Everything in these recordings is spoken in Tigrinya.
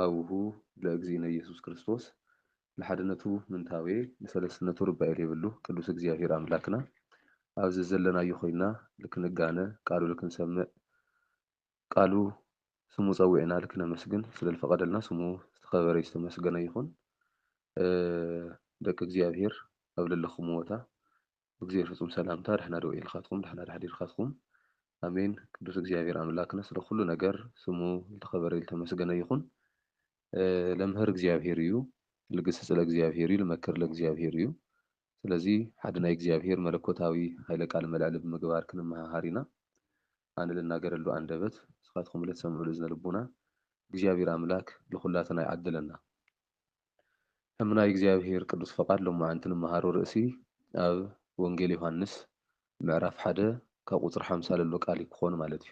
ኣብሁ ለእግዚእነ ኢየሱስ ክርስቶስ ንሓድነቱ ምንታዌ ንሰለስትነቱ ርባኤ ሌብሉ ቅዱስ እግዚኣብሔር ኣምላክና ኣብ ዘዘለናዮ ኮይና ልክንጋነ ቃሉ ልክንሰምዕ ቃሉ ስሙ ጸዊዕና ልክነመስግን ስለልፈቀደልና ስሙ ዝተከበረ ዝተመስገነ ይኩን ደቂ እግዚኣብሔር ኣብ ለለክምዎታ ብግዜ ፍጹም ሰላምታ ደሕና ዶ ኢልካትኩም ደሕና ዶ ኣሕዲርካትኩም ኣሜን ቅዱስ እግዚኣብሔር ኣምላክና ስለ ኩሉ ነገር ስሙ ልተከበረ ልተመስገነ ይኩን ለምህር እግዚኣብሔር እዩ ልግስጽ ለእግዚኣብሔር እዩ ልመክር ለእግዚኣብሔር እዩ ስለዚ ሓደ ናይ እግዚኣብሔር መለኮታዊ ኃይለ ቃል መልዕሊ ብምግባር ክንመሃሃር ኢና ኣነ ልናገረሉ ኣንደበት ንስካትኩም ልትሰምዑሉ እዝነ ልቡና እግዚኣብሔር ኣምላክ ልኩላትና ይዓድለና እም ናይ እግዚኣብሔር ቅዱስ ፈቃድ ሎማዕንቲ ንመሃሮ ርእሲ ኣብ ወንጌል ዮሐንስ ምዕራፍ ሓደ ካብ ቁጽሪ ሓምሳ ለሎ ቃል እዩ ክኾን ማለት እዩ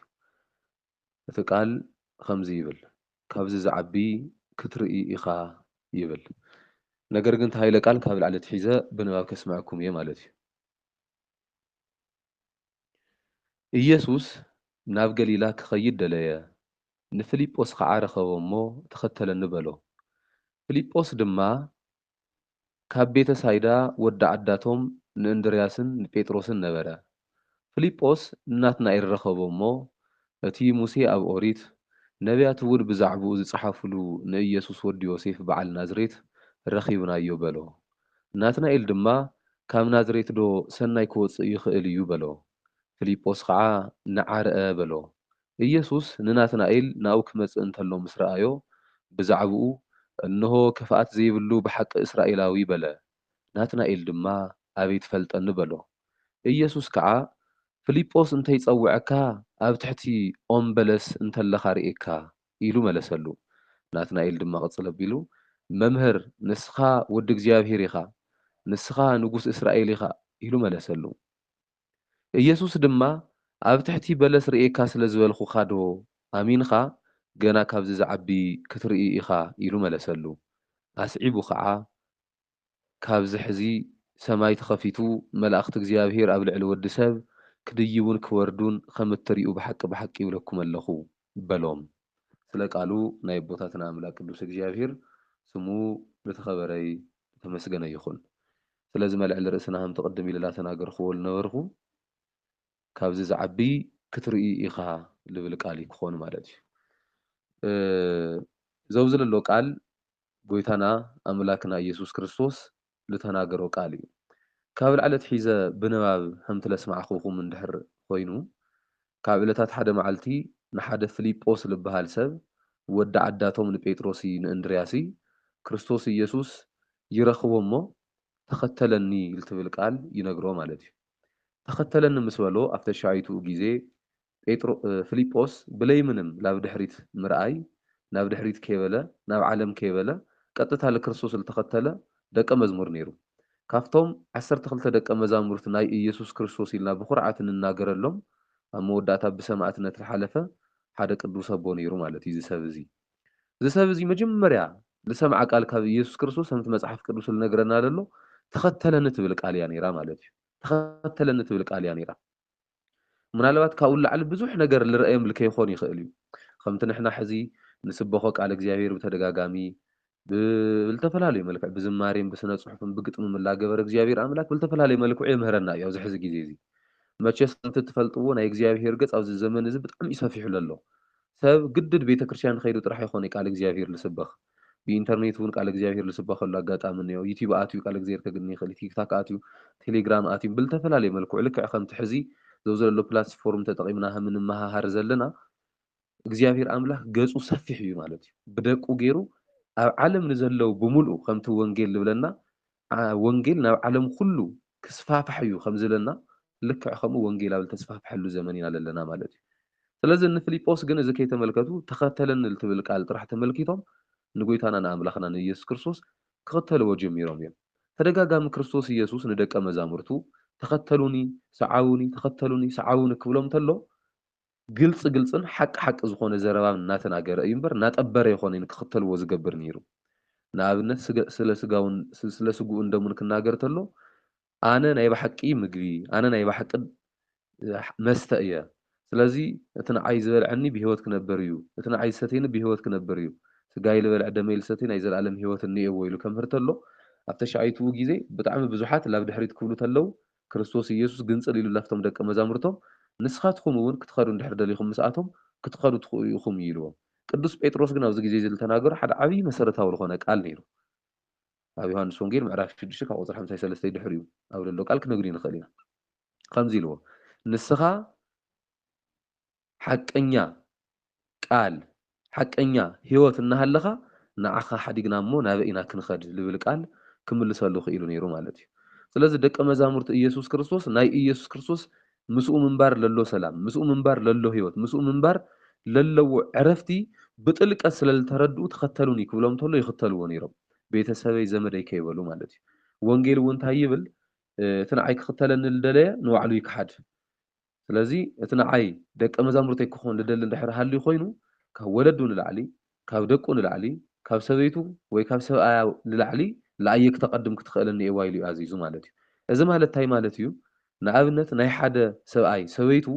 እቲ ቃል ኸምዚ ይብል ካብዚ ዝዓቢ ክትርኢ ኢኻ ይብል ነገር ግን እቲ ሃይለ ቃል ካብ ላዕሊ ኣትሒዘ ብንባብ ከስምዐኩም እየ ማለት እዩ። ኢየሱስ ናብ ገሊላ ኪኸይድ ደለየ፣ ንፊልጶስ ኸዓ ረኸቦ እሞ፣ ተኸተለኒ በሎ። ፊልጶስ ድማ ካብ ቤተ ሳይዳ ወዲ ዓዳቶም ንእንድርያስን ንጴጥሮስን ነበረ። ፊልጶስ ንናትናኤል ረኸቦ እሞ፣ እቲ ሙሴ ኣብ ኦሪት፣ ነብያትውን ብዛዕባኡ ዝጸሓፉሉ ንኢየሱስ ወዲ ዮሴፍ በዓል ናዝሬት ረኺብናዮ በሎ። ናትናኤል ድማ ካብ ናዝሬትዶ ሠናይ ክወፅእ ይኽእል እዩ በሎ። ፍሊጶስ ኸዓ ንዓ ርኣ በሎ። ኢየሱስ ንናትናኤል ናብኡ ክመፅእ እንተሎ ምስ ረኣዮ ብዛዕብኡ እንሆ ክፍኣት ዘይብሉ ብሓቂ እስራኤላዊ በለ። ናትናኤል ድማ ኣበይ ትፈልጠኒ በሎ። ኢየሱስ ከዓ ፍሊጶስ እንተይፀወዐካ ኣብ ትሕቲ ኦም በለስ እንተለኻ ርእየካ ኢሉ መለሰሉ። ናትናኤል ድማ ቅጽል ኣቢሉ፣ መምህር፣ ንስኻ ወዲ እግዚኣብሄር ኢኻ፣ ንስኻ ንጉስ እስራኤል ኢኻ ኢሉ መለሰሉ። ኢየሱስ ድማ፣ ኣብ ትሕቲ በለስ ርእየካ ስለ ዝበልኩኻዶ ኣሚንኻ፣ ገና ካብዚ ዝዓቢ ክትርኢ ኢኻ ኢሉ መለሰሉ። ኣስዒቡ ኸዓ፣ ካብዚ ሕዚ ሰማይ ተኸፊቱ መላእኽቲ እግዚኣብሄር ኣብ ልዕሊ ወዲ ሰብ ክድይቡን ክወርዱን ኸም እትሪኡ ብሓቂ ብሓቂ እብለኩም ኣለኹ በሎም። ስለ ቃሉ ናይ ኣቦታትና ኣምላክ ቅዱስ እግዚኣብሄር ስሙ ልተከበረ ልተመስገነ ይኩን ስለዚ መልዕሊ ርእስና ከምቲ ቅድም ኢለ ላተናገርክዎ ልነበርኩ ካብዚ ዝዓቢ ክትርእይ ኢካ ልብል ቃል ክኮን ማለት እዩ ዘውዚ ለሎ ቃል ጎይታና ኣምላክና እየሱስ ክርስቶስ ልተናገሮ ቃል እዩ። ካብ ላዕሊ ኣትሒዘ ብንባብ ኸምቲ ለስማዕኹኹም እንድሕር ኾይኑ፣ ካብ ዕለታት ሓደ መዓልቲ ንሓደ ፍሊጶስ ልበሃል ሰብ፣ ወዲ ዓዳቶም ንጴጥሮሲ ንእንድርያሲ፣ ክርስቶስ እየሱስ ይረኽቦ እሞ ተኸተለኒ ልትብል ቃል ይነግሮ ማለት እዩ። ተኸተለኒ ምስ በሎ ኣብ ተሻይትኡ ጊዜ ጴጥሮ ፍሊጶስ ብለይ ምንም ላብ ድሕሪት ምርኣይ ናብ ድሕሪት ከይበለ ናብ ዓለም ከይበለ ቀጥታ ልክርስቶስ ልተኸተለ ደቀ መዝሙር ነይሩ። ካብቶም ዓሰርተ ክልተ ደቀ መዛሙርት ናይ እየሱስ ክርስቶስ ኢልና ብኹርዓት እንናገረሎም ኣብ መወዳእታ ብሰማእትነት ልሓለፈ ሓደ ቅዱስ ኣቦ ነይሩ ማለት እዩ እዚ ሰብ እዚ። እዚ ሰብ እዚ መጀመርያ ልሰምዓ ቃል ካብ እየሱስ ክርስቶስ ከምቲ መጽሓፍ ቅዱስ ልነግረና ለሎ ተኸተለኒ ትብል ቃል እያ ነይራ ማለት እዩ። ተኸተለኒ ትብል ቃል እያ ነይራ። ምናልባት ካብኡ ንላዕሊ ብዙሕ ነገር ልርኣዮም ልከይኮን ይኽእል እዩ። ከምቲ ንሕና ሕዚ ንስበኾ ቃል እግዚኣብሔር ብተደጋጋሚ ብልተፈላለዩ መልክዕ ብዝማሬን ብስነጽሑፍን ብግጥምም እላገበረ እግዚኣብሔር ኣምላክ ብልተፈላለየ መልክዑ የምህረና እዩ ኣብዚ ሕዚ ጊዜ እዚ። መቸስ ከምቲ እትፈልጥዎ ናይ እግዚኣብሔር ገጽ ኣብዚ ዘመን እዚ ብጣዕሚ እዩ ሰፊሑ ለሎ። ሰብ ግድድ ቤተክርስቲያን ከይዱ ጥራሕ ኣይኮነይ ቃል እግዚኣብሔር ልስበኽ። ብኢንተርኔት ውን ቃል እግዚኣብሄር ልስበኸሉ ኣጋጣሚ እኒኦ። ዩቲብ ኣትዩ ቃል እግዝሄር ከግኒ ይኽእል እዩ። ቲክታክ ኣትዩ፣ ቴሌግራም ኣትዩ ብልተፈላለየ መልክዑ ልክዕ ከምቲ ሕዚ ዘውዘለሎ ፕላትስ ፎርም ተጠቒምና ሃም እንመሃሃር ዘለና እግዚኣብሄር ኣምላክ ገጹ ሰፊሕ እዩ ማለት እዩ። ብደቁ ገይሩ ኣብ ዓለም ንዘለው ብምልኡ ከምቲ ወንጌል ልብለና ወንጌል ናብ ዓለም ኩሉ ክስፋፋሕ እዩ ከም ዝለና ልክዕ ከምኡ ወንጌል ኣብ ልተስፋፍሐሉ ዘመን ኢና ለለና ማለት እዩ። ስለዚ ንፍሊጶስ ግን እዚ ከይተመልከቱ ተኸተለኒ ልትብል ቃል ጥራሕ ተመልኪቶም ንጎይታና ንኣምላኽና ንኢየሱስ ክርስቶስ ክኽተልዎ ጀሚሮም እዮም። ተደጋጋሚ ክርስቶስ ኢየሱስ ንደቀ መዛሙርቱ ተኸተሉኒ ሰዓቡኒ ተኸተሉኒ ሰዓቡኒ ክብሎም ተሎ ግልፂ ግልፅን ሓቂ ሓቂ ዝኾነ ዘረባን እናተናገረ እዩ እምበር እናጠበረ የኾነይን ክኽተልዎ ዝገብር ነይሩ። ንኣብነት ስገ ስለ ስጋውን ስለ ስግኡን ደሙን ክናገር ተሎ ኣነ ናይ ባሓቂ ምግቢ ኣነ ናይ ባሓቂ መስተ እየ ስለዚ እቲ ንዓይ ዝበልዐኒ ብህይወት ክነበር እዩ እቲ ንዓይ ዝሰትየኒ ብህይወት ክነበር እዩ ስጋይ ልበልዕ ደመይ ልሰትይ ናይ ዘለኣለም ህይወት እኒኤዎ ኢሉ ከምህር ተሎ ኣብ ተሻይትኡ ግዜ ብጣዕሚ ብዙሓት ላብ ድሕሪት ክብሉ ተለው ክርስቶስ ኢየሱስ ግንጽል ኢሉ ናብቶም ደቀ መዛሙርቶም ንስኻትኹም እውን ክትኸዱ እንድሕር ደሊኹም ምስኣቶም ክትኸዱ ትኽእኡ ኢኹም እዩ ኢልዎም። ቅዱስ ጴጥሮስ ግን ኣብዚ ጊዜ እዚ ልተናገሮ ሓደ ዓቢይ መሠረታዊ ልኾነ ቃል ነይሩ። ኣብ ዮሐንስ ወንጌል ምዕራፍ ሽዱሽተ ካብ ቁጽሪ ሓምሳይ ሰለስተይ ድሕሪኡ ኣብ ለሎ ቃል ክንግንዩ ንኽእል ኢና። ኸምዚ ኢልዎ ንስኻ ሓቀኛ ቃል ሓቀኛ ሕይወት እናሃለኻ ንዓኻ ሓዲግና እሞ ናበይ ኢና ክንኸድ ልብል ቃል ክምልሰሉ ክኢሉ ነይሩ ማለት እዩ። ስለዚ ደቀ መዛሙርቲ ኢየሱስ ክርስቶስ ናይ ኢየሱስ ክርስቶስ ምስኡ ምንባር ለሎ ሰላም፣ ምስኡ ምንባር ለሎ ሕይወት፣ ምስኡ ምንባር ለለዎ ዕረፍቲ ብጥልቀት ስለ ልተረድኡ ተኸተሉኒ ክብሎም ተሎ ይኽተልዎ ነይሮም። ቤተ ሰበይ ዘመደይ ከይበሉ ማለት እዩ። ወንጌል እውን እንታይ ይብል እቲ ንዓይ ክኽተለኒ ልደለየ ንባዕሉ ይክሓድ ስለዚ እቲ ንዓይ ደቀ መዛሙርተይ ክኾን ልደሊ እንድሕር ሃልዩ ኮይኑ ካብ ወለዱ ንላዕሊ ካብ ደቁ ንላዕሊ ካብ ሰበይቱ ወይ ካብ ሰብኣያ ንላዕሊ ልኣየ ክተቀድም ክትኽእል እኒኤዋ ኢሉ እዩ ኣዚዙ ማለት እዩ እዚ ማለት ታይ ማለት እዩ ንኣብነት ናይ ሓደ ሰብኣይ ሰበይቱ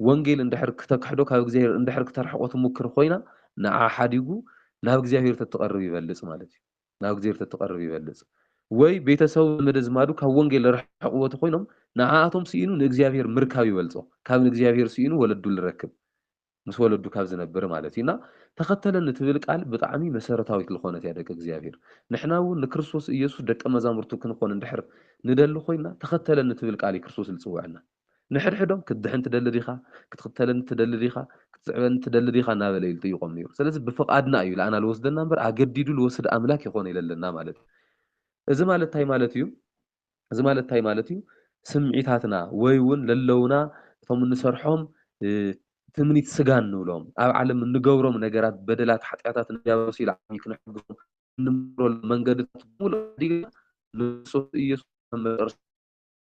ወንጌል እንድሕር ክተክሕዶ ካብ እግዚኣብሔር እንድሕር ክተርሕቆ ትሙክር ኾይና ንዓ ሓዲጉ ናብ እግዚኣብሔር ተትቀርብ ይበልፅ ማለት እዩ ናብ እግዜር ተትቐርብ ይበልጽ። ወይ ቤተሰቡ ዘመደዝማዱ ካብ ወንጌል ልረሕቕዎ ተኾይኖም ንዓኣቶም ስኢኑ ንእግዚኣብሔር ምርካብ ይበልጾ ካብ ንእግዚኣብሔር ስኢኑ ወለዱ ልረክብ ምስ ወለዱ ካብ ዝነብር ማለት እዩ እና ተኸተለኒ ትብል ቃል ብጣዕሚ መሰረታዊት ልኾነት እያ ደቂ እግዚኣብሔር ንሕና እውን ንክርስቶስ ኢየሱስ ደቀ መዛሙርቱ ክንኾን እንድሕር ንደሊ ኾይንና ተኸተለኒ ትብል ቃል እዩ ክርስቶስ ልጽውዐና ንሕድሕዶም ክትድሕን ትደሊ ዲኻ? ክትኽተለኒ ትደሊ ዲኻ? ክትስዕበኒ ትደሊ ዲኻ? እናበለ እዩ ልጥይቖም ነይሩ። ስለዚ ብፍቓድና እዩ ልኣና ልወስደና እምበር ኣገዲዱ ልወስድ ኣምላክ የኾነ ኢለለና ማለት እዩ። እዚ ማለት እንታይ ማለት እዩ? እዚ ማለት እንታይ ማለት እዩ? ስምዒታትና ወይ እውን ለለውና እቶም እንሰርሖም ትምኒት ስጋ እንብሎም ኣብ ዓለም እንገብሮም ነገራት በደላት ሓጢኣታት ንዲያብሎስ ኢሉ ዓብዪ ክነሕግሶም እንምረሉ መንገድታት ብምሉእ ሓዲግና ንክርስቶስ ኢየሱስ መጨረሻ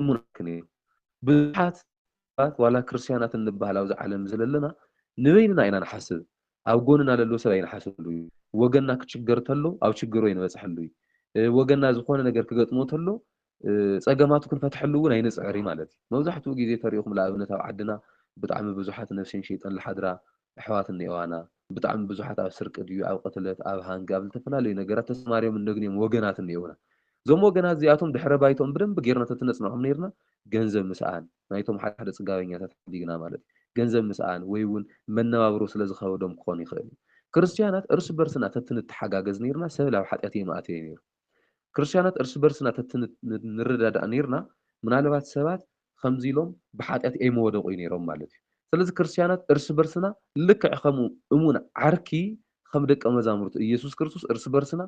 እሙናትክን እዩ። ብዙሓት ሰባት ዋላ ክርስትያናት እንብሃል ኣብዚ ዓለም ዝለለና ንበይንና ኢና ንሓስብ ኣብ ጎንና ለሎ ሰብ ኣይንሓስበሉ እዩ። ወገንና ክችገር ተሎ ኣብ ችገሩ ኣይንበጽሐሉ እዩ። ወገንና ዝኾነ ነገር ክገጥሞ ተሎ ጸገማቱ ክንፈትሐሉ እውን ኣይንጽዕር እዩ ማለት እዩ። መብዛሕትኡ ግዜ ተሪእኹም ልኣብነት ኣብ ዓድና ብጣዕሚ ብዙሓት ነፍሴን ሸይጠን ልሓድራ ኣሕዋት እኒኦዋና። ብጣዕሚ ብዙሓት ኣብ ስርቂ ድዩ ኣብ ቅትለት ኣብ ሃንጊ ኣብ ልተፈላለዩ ነገራት ተሰማርዮምን ደግንዮም ወገናት እኒኦውና። እዞም ወገናት እዚኣቶም ድሕረ ባይትኦም ብደንቢ ገይርና ተትነጽንዖም ነይርና ገንዘብ ምስኣን ናይቶም ሓደ ሓደ ጽጋበኛታት ሓዲግና ማለት እዩ ገንዘብ ምስኣን ወይ እውን መነባብሮ ስለ ዝኸበዶም ክኾን ይኽእል እዩ ክርስትያናት እርስ በርስና ተትንተሓጋገዝ ነይርና ሰብ ላብ ሓጢኣት እየምኣተየ ነይሩ። ክርስትያናት እርስ በርስና ተትንረዳዳእ ኔርና ምናልባት ሰባት ከምዚ ኢሎም ብሓጢኣት ኣይመወደቑይ ኔሮም ማለት እዩ። ስለዚ ክርስትያናት እርስ በርስና ልክዕ ከም እሙን ዓርኪ ከም ደቀ መዛሙርቱ እየሱስ ክርስቶስ እርስ በርስና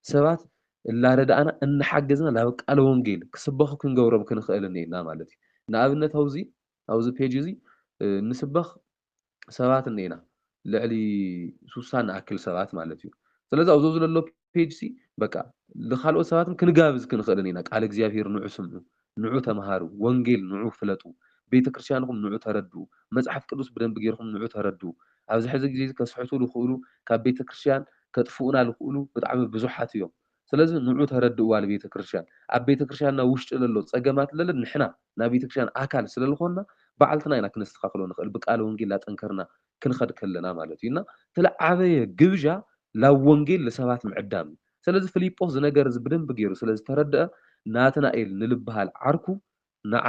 ሰባት እላረዳእና እናሓገዝና ናብ ቃለ ወንጌል ክስበኹ ክንገብሮም ክንኽእል እኔና ማለት እዩ። ንኣብነት ኣውዚ ኣብዚ ፔጅ እዚ ንስበኽ ሰባት እንኤና ልዕሊ ሱሳ ንኣክል ሰባት ማለት እዩ ስለዚ ኣብዞ ዝለሎ ፔጅ ሲ በቃ ንካልኦት ሰባትም ክንጋብዝ ክንኽእልን ኢና ቃል እግዚኣብሄር ንዑ ስምዑ ንዑ ተምሃሩ ወንጌል ንዑ ፍለጡ ቤተ ክርስቲያንኹም ንዑ ተረድኡ መጽሓፍ ቅዱስ ብደንቢ ጌርኩም ንዑ ተረድኡ ኣብዚ ሕዚ ግዜ ከስሕቱ ዝኽእሉ ካብ ቤተ ክርስቲያን ከጥፍኡና ዝኽእሉ ብጣዕሚ ብዙሓት እዮም ስለዚ ንዑ ተረድእዋ ልቤተክርስትያን ኣብ ቤተክርስትያንና ውሽጢ ለሎ ጸገማት ለለ ንሕና ናይ ቤተክርስትያን ኣካል ስለልኾንና ባዕልትና ኢና ክነስተኻኽሎ ንኽእል ብቃለ ወንጌል ላጠንከርና ክንኸድ ከለና ማለት እዩ እና ትልዓበየ ግብዣ ላብ ወንጌል ልሰባት ምዕዳም እዩ ስለዚ ፍሊጶስ ዝነገር እዚ ብደንቢ ገይሩ ስለዝተረድኣ ናትናኤል ንልብሃል ዓርኩ ንዓ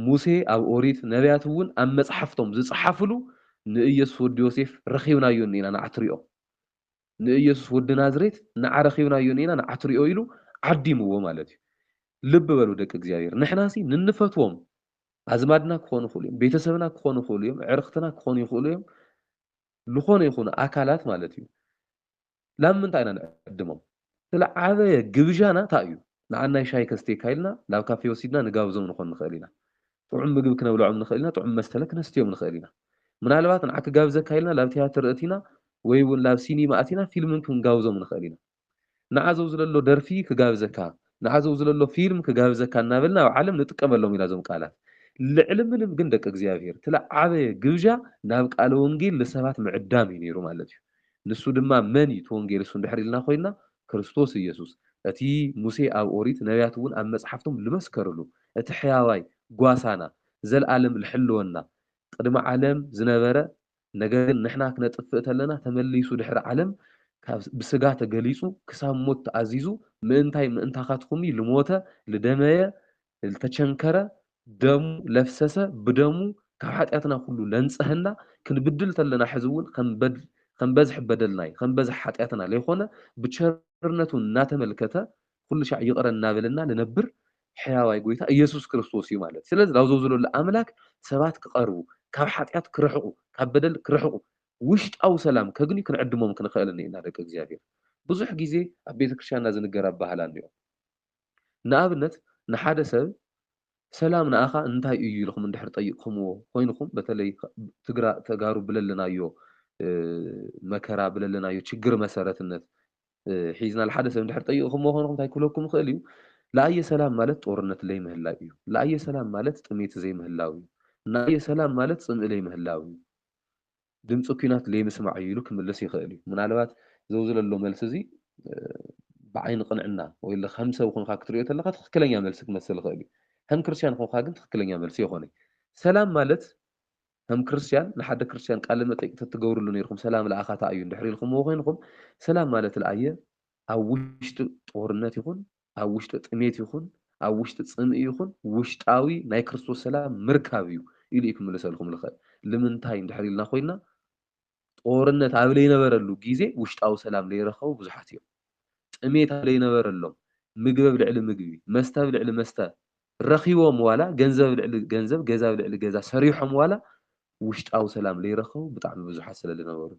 ሙሴ ኣብ ኦሪት ነብያት እውን ኣብ መጽሓፍቶም ዝጸሓፍሉ ንኢየሱስ ወዲ ዮሴፍ ረኺብናዮ እኒኢና ንዓ ትሪኦ ንእየሱስ ወዲ ናዝሬት ንዓ ረኪብናዮ እኒና ንዓ ትሪኦ ኢሉ ዓዲምዎ ማለት እዩ ልቢ በሉ ደቂ እግዚኣብሔር ንሕናሲ ንንፈትዎም ኣዝማድና ክኾኑ ይኽእሉ እዮም ቤተሰብና ክኾኑ ይኽእሉ እዮም ዕርኽትና ክኾኑ ይኽእሉ እዮም ዝኾነ ይኹኑ ኣካላት ማለት እዩ ላብ ምንታይ ኢና ንዕድሞም ስለ ዓበየ ግብዣና እንታይ እዩ ንዓናይ ሻይ ከስቴካ ኢልና ናብ ካፌ ወሲድና ንጋብዞም ንኾን ንኽእል ኢና ጥዑም ምግቢ ክነብልዖም ንኽእል ኢና፣ ጥዑም መስተለ ክነስትዮም ንኽእል ኢና። ምናልባት ንዓ ክጋብዘካ ኢልና ላብ ትያትር እቲና ወይ እውን ላብ ሲኒማ ኣቲና ፊልም እውን ክንጋብዞም ንኽእል ኢና። ንዓ ዘውዝለሎ ደርፊ ክጋብዘካ፣ ንዓ ዘውዝለሎ ፊልም ክጋብዘካ እናበልና ኣብ ዓለም ንጥቀመሎም ኢና እዞም ቃላት። ልዕሊ ምንም ግን ደቂ እግዚኣብሔር እቲ ልዓበየ ግብዣ ናብ ቃለ ወንጌል ልሰባት ምዕዳም እዩ ነይሩ ማለት እዩ። ንሱ ድማ መን እዩ እቲ ወንጌል እሱ እንድሕር ኢልና ኮይንና ክርስቶስ ኢየሱስ፣ እቲ ሙሴ ኣብ ኦሪት፣ ነብያት'ውን ኣብ መጽሓፍቶም ልመስከርሉ፣ እቲ ሕያዋይ ጓሳና፣ ዘልኣለም ልሕልወና፣ ቕድሚ ዓለም ዝነበረ፣ ነገር ግን ንሕና ክነጥፍእ ተለና ተመሊሱ ድሕሪ ዓለም ካብ ብሥጋ ተገሊጹ ክሳብ ሞት ተኣዚዙ ምእንታይ ምእንታኻትኩም'ዩ ልሞተ፣ ልደመየ፣ ልተቸንከረ ደሙ ለፍሰሰ ብደሙ ካብ ሓጢኣትና ኩሉ ለንጸሀና ክንብድል ተለና ሕዚ ውን ከም በዝሒ በደልናይ ከም በዝሒ ሓጢኣትና ለይኮነ ብቸርነቱ እናተመልከተ ኩሉ ሻዕ ይቕረ እናበለና ልነብር ሕያዋይ ጎይታ ኢየሱስ ክርስቶስ እዩ ማለት ስለዚ ላብዞ ዝለሉ ኣምላክ ሰባት ክቐርቡ ካብ ሓጢኣት ክርሕቑ ካብ በደል ክርሕቑ ውሽጣዊ ሰላም ከግንዩ ክንዕድሞም ክንኸእል እኒእና ደቂ እግዚኣብሔር ብዙሕ ጊዜ ኣብ ቤተክርስቲያንና ዝንገር ኣባህላ እኒኦ ንኣብነት ንሓደ ሰብ ሰላም ንኣኻ እንታይ እዩ ኢልኹም እንድሕር ጠይቕኹምዎ ኮይንኹም በተለይ ትግራ ተጋሩ ብለለናዮ መከራ ብለለናዮ ችግር መሰረትነት ሒዝና ልሓደ ሰብ እንድሕር ጠይቕኹምዎ ኮይንኹም እንታይ ክብለኩም ይኽእል እዩ ለኣየ ሰላም ማለት ጦርነት ለይምህላው እዩ ለኣየ ሰላም ማለት ጥሜት ዘይምህላው እዩ ንኣየ ሰላም ማለት ፅምኢ ለይምህላው እዩ ድምጺ ኩናት ለይምስማዕ'ዩ ኢሉ ክምልስ ይኽእል እዩ። ምናልባት ዘውዝለሎ መልሲ እዚ ብዓይኒ ቅንዕና ወይለ ከም ሰብ ኮንካ ክትርእዮ ተለኻ ትኽክለኛ መልሲ ክመስል ይኽእል እዩ። ከም ክርስትያን ኮንካ ግን ትኽክለኛ መልሲ ኣይኮነይ። ሰላም ማለት ከም ክርስትያን ንሓደ ክርስትያን ቃለ መጠይቅ ተትገብርሉ ነይርኩም ሰላም ለኣኻ ታይ እዩ እንድሕር ኢልኩምዎ ኮይንኩም ሰላም ማለት ለኣየ ኣብ ውሽጢ ጦርነት ይኹን ኣብ ውሽጢ ጥሜት ይኹን ኣብ ውሽጢ ጽምኢ ይኹን ውሽጣዊ ናይ ክርስቶስ ሰላም ምርካብ እዩ ኢሉ እዩ ክምልሰልኩም ልኽእል። ልምንታይ እንድሕር ኢልና ኮይና ጦርነት ኣብ ለይነበረሉ ጊዜ ውሽጣዊ ሰላም ለይረኸቡ ብዙሓት እዮም። ጥሜት ኣብ ለይነበረሎም ምግቢ ኣብ ልዕሊ ምግቢ መስተ ኣብ ልዕሊ መስተ ረኺቦም ዋላ ገንዘብ ኣብ ልዕሊ ገንዘብ ገዛ ኣብ ልዕሊ ገዛ ሰሪሖም ዋላ ውሽጣዊ ሰላም ለይረኸቡ ብጣዕሚ ብዙሓት ስለ ልነበሩ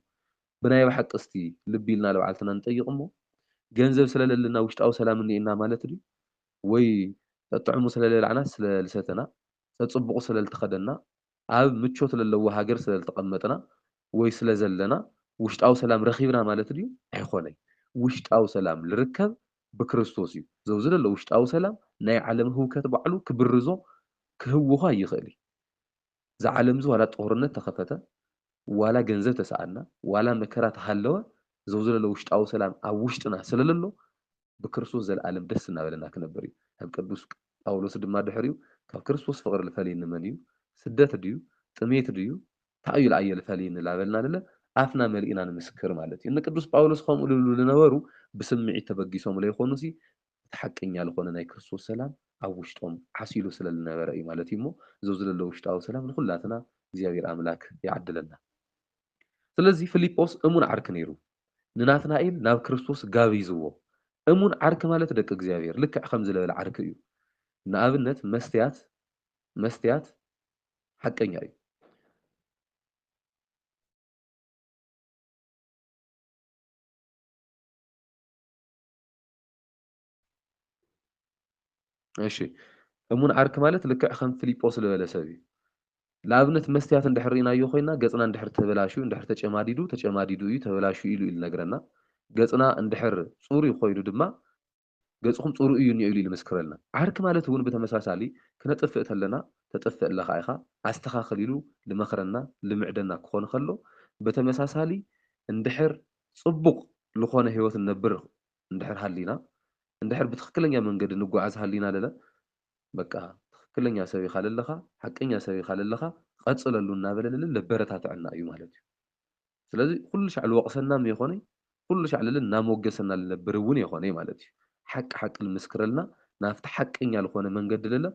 ብናይ ባሓቂ እስቲ ልብ ኢልና ልባዕልትና ንጠይቅ እሞ ገንዘብ ስለ ለለና ውሽጣዊ ሰላም እኒኤና ማለት ድዩ ወይ ጠጥዕሙ ስለ ለብላዕናስ ስለ ልሰተና ጸጽቡቁ ስለ ልተከደና ኣብ ምቾት ለለዎ ሃገር ስለ ልተቀመጥና ወይ ስለ ዘለና ውሽጣዊ ሰላም ረኪብና ማለት ድዩ ኣይኮነይ ውሽጣዊ ሰላም ልርከብ ብክርስቶስ እዩ ዘውዚ ለሎ ውሽጣዊ ሰላም ናይ ዓለም ህውከት ባዕሉ ክብርዞ ክህውኳ ይክእል እዩ እዛ ዓለምዚ ዋላ ጦርነት ተኸፈተ ዋላ ገንዘብ ተሰኣና ዋላ መከራ ተሃለወ ዘውዘለለ ውሽጣዊ ሰላም ኣብ ውሽጥና ስለለሎ ብክርስቶስ ዘለኣለም ደስ እናበለና ክነብር እዩ ከም ቅዱስ ጳውሎስ ድማ ድሕሪኡ ካብ ክርስቶስ ፍቕሪ ልፈልየኒ መን እዩ ስደት ድዩ ጥሜት ድዩ ታይ እዩ ልኣየ ልፈልየኒ ላበልና ንለ ኣፍና መሊእና ንምስክር ማለት እዩ ንቅዱስ ጳውሎስ ከምኡ ልብሉ ልነበሩ ብስምዒት ተበጊሶም ለይኮኑሲ እቲ ሓቀኛ ልኾነ ናይ ክርስቶስ ሰላም ኣብ ውሽጦም ዓሲሉ ስለ ልነበረ እዩ ማለት እዩ እሞ እዞ ዝለለ ውሽጣዊ ሰላም ንኹላትና እግዚኣብሔር ኣምላክ ይዓድለና ስለዚ ፍሊጶስ እሙን ዓርኪ ነይሩ ንናትናኤል ናብ ክርስቶስ ጋቢዝዎ እሙን ዓርኪ ማለት ደቂ እግዚኣብሔር ልክዕ ከምዚ ለበለ ዓርኪ እዩ ንኣብነት መስትያት መስትያት ሓቀኛ እዩ እሺ እሙን ዓርኪ ማለት ልክዕ ከም ፍሊጶስ ልበለ ሰብ እዩ። ንኣብነት መስትያት እንድሕር ርኢናዮ ኮይና ገጽና እንድሕር ተበላሽዩ እንድሕር ተጨማዲዱ ተጨማዲዱ እዩ ተበላሽዩ ኢሉ እዩ ልነግረና። ገጽና እንድሕር ጽሩይ ኮይኑ ድማ ገጽኹም ጽሩይ እዩ እኒኦ ኢሉ እዩ ልምስክረልና። ዓርኪ ማለት እውን ብተመሳሳሊ ክነጥፍእ ተለና ተጥፍእ ኣለኻ ኢኻ ኣስተኻኽል ኢሉ ልመኽረና ልምዕደና ክኾን ኸሎ በተመሳሳሊ እንድሕር ጽቡቕ ልኾነ ህይወት ንነብር እንድሕር ሃሊና እንድሕር ብትክክለኛ መንገዲ ንጓዓዝ ሃሊና ለለ በቃ ትክክለኛ ሰብ ኢካ ለለካ ሓቀኛ ሰብ ኢካ ለለካ ቀፅለሉ እናበለ ለለ ለበረታተዐና እዩ ማለት እዩ ስለዚ ኩሉ ሻዕ ልወቅሰና መይኮነይ ኩሉ ሻዕ ለለ እናሞገሰና ልነብር እውን የኮነይ ማለት እዩ ሓቂ ሓቂ ልምስክረልና ናብቲ ሓቀኛ ልኮነ መንገዲ ለለ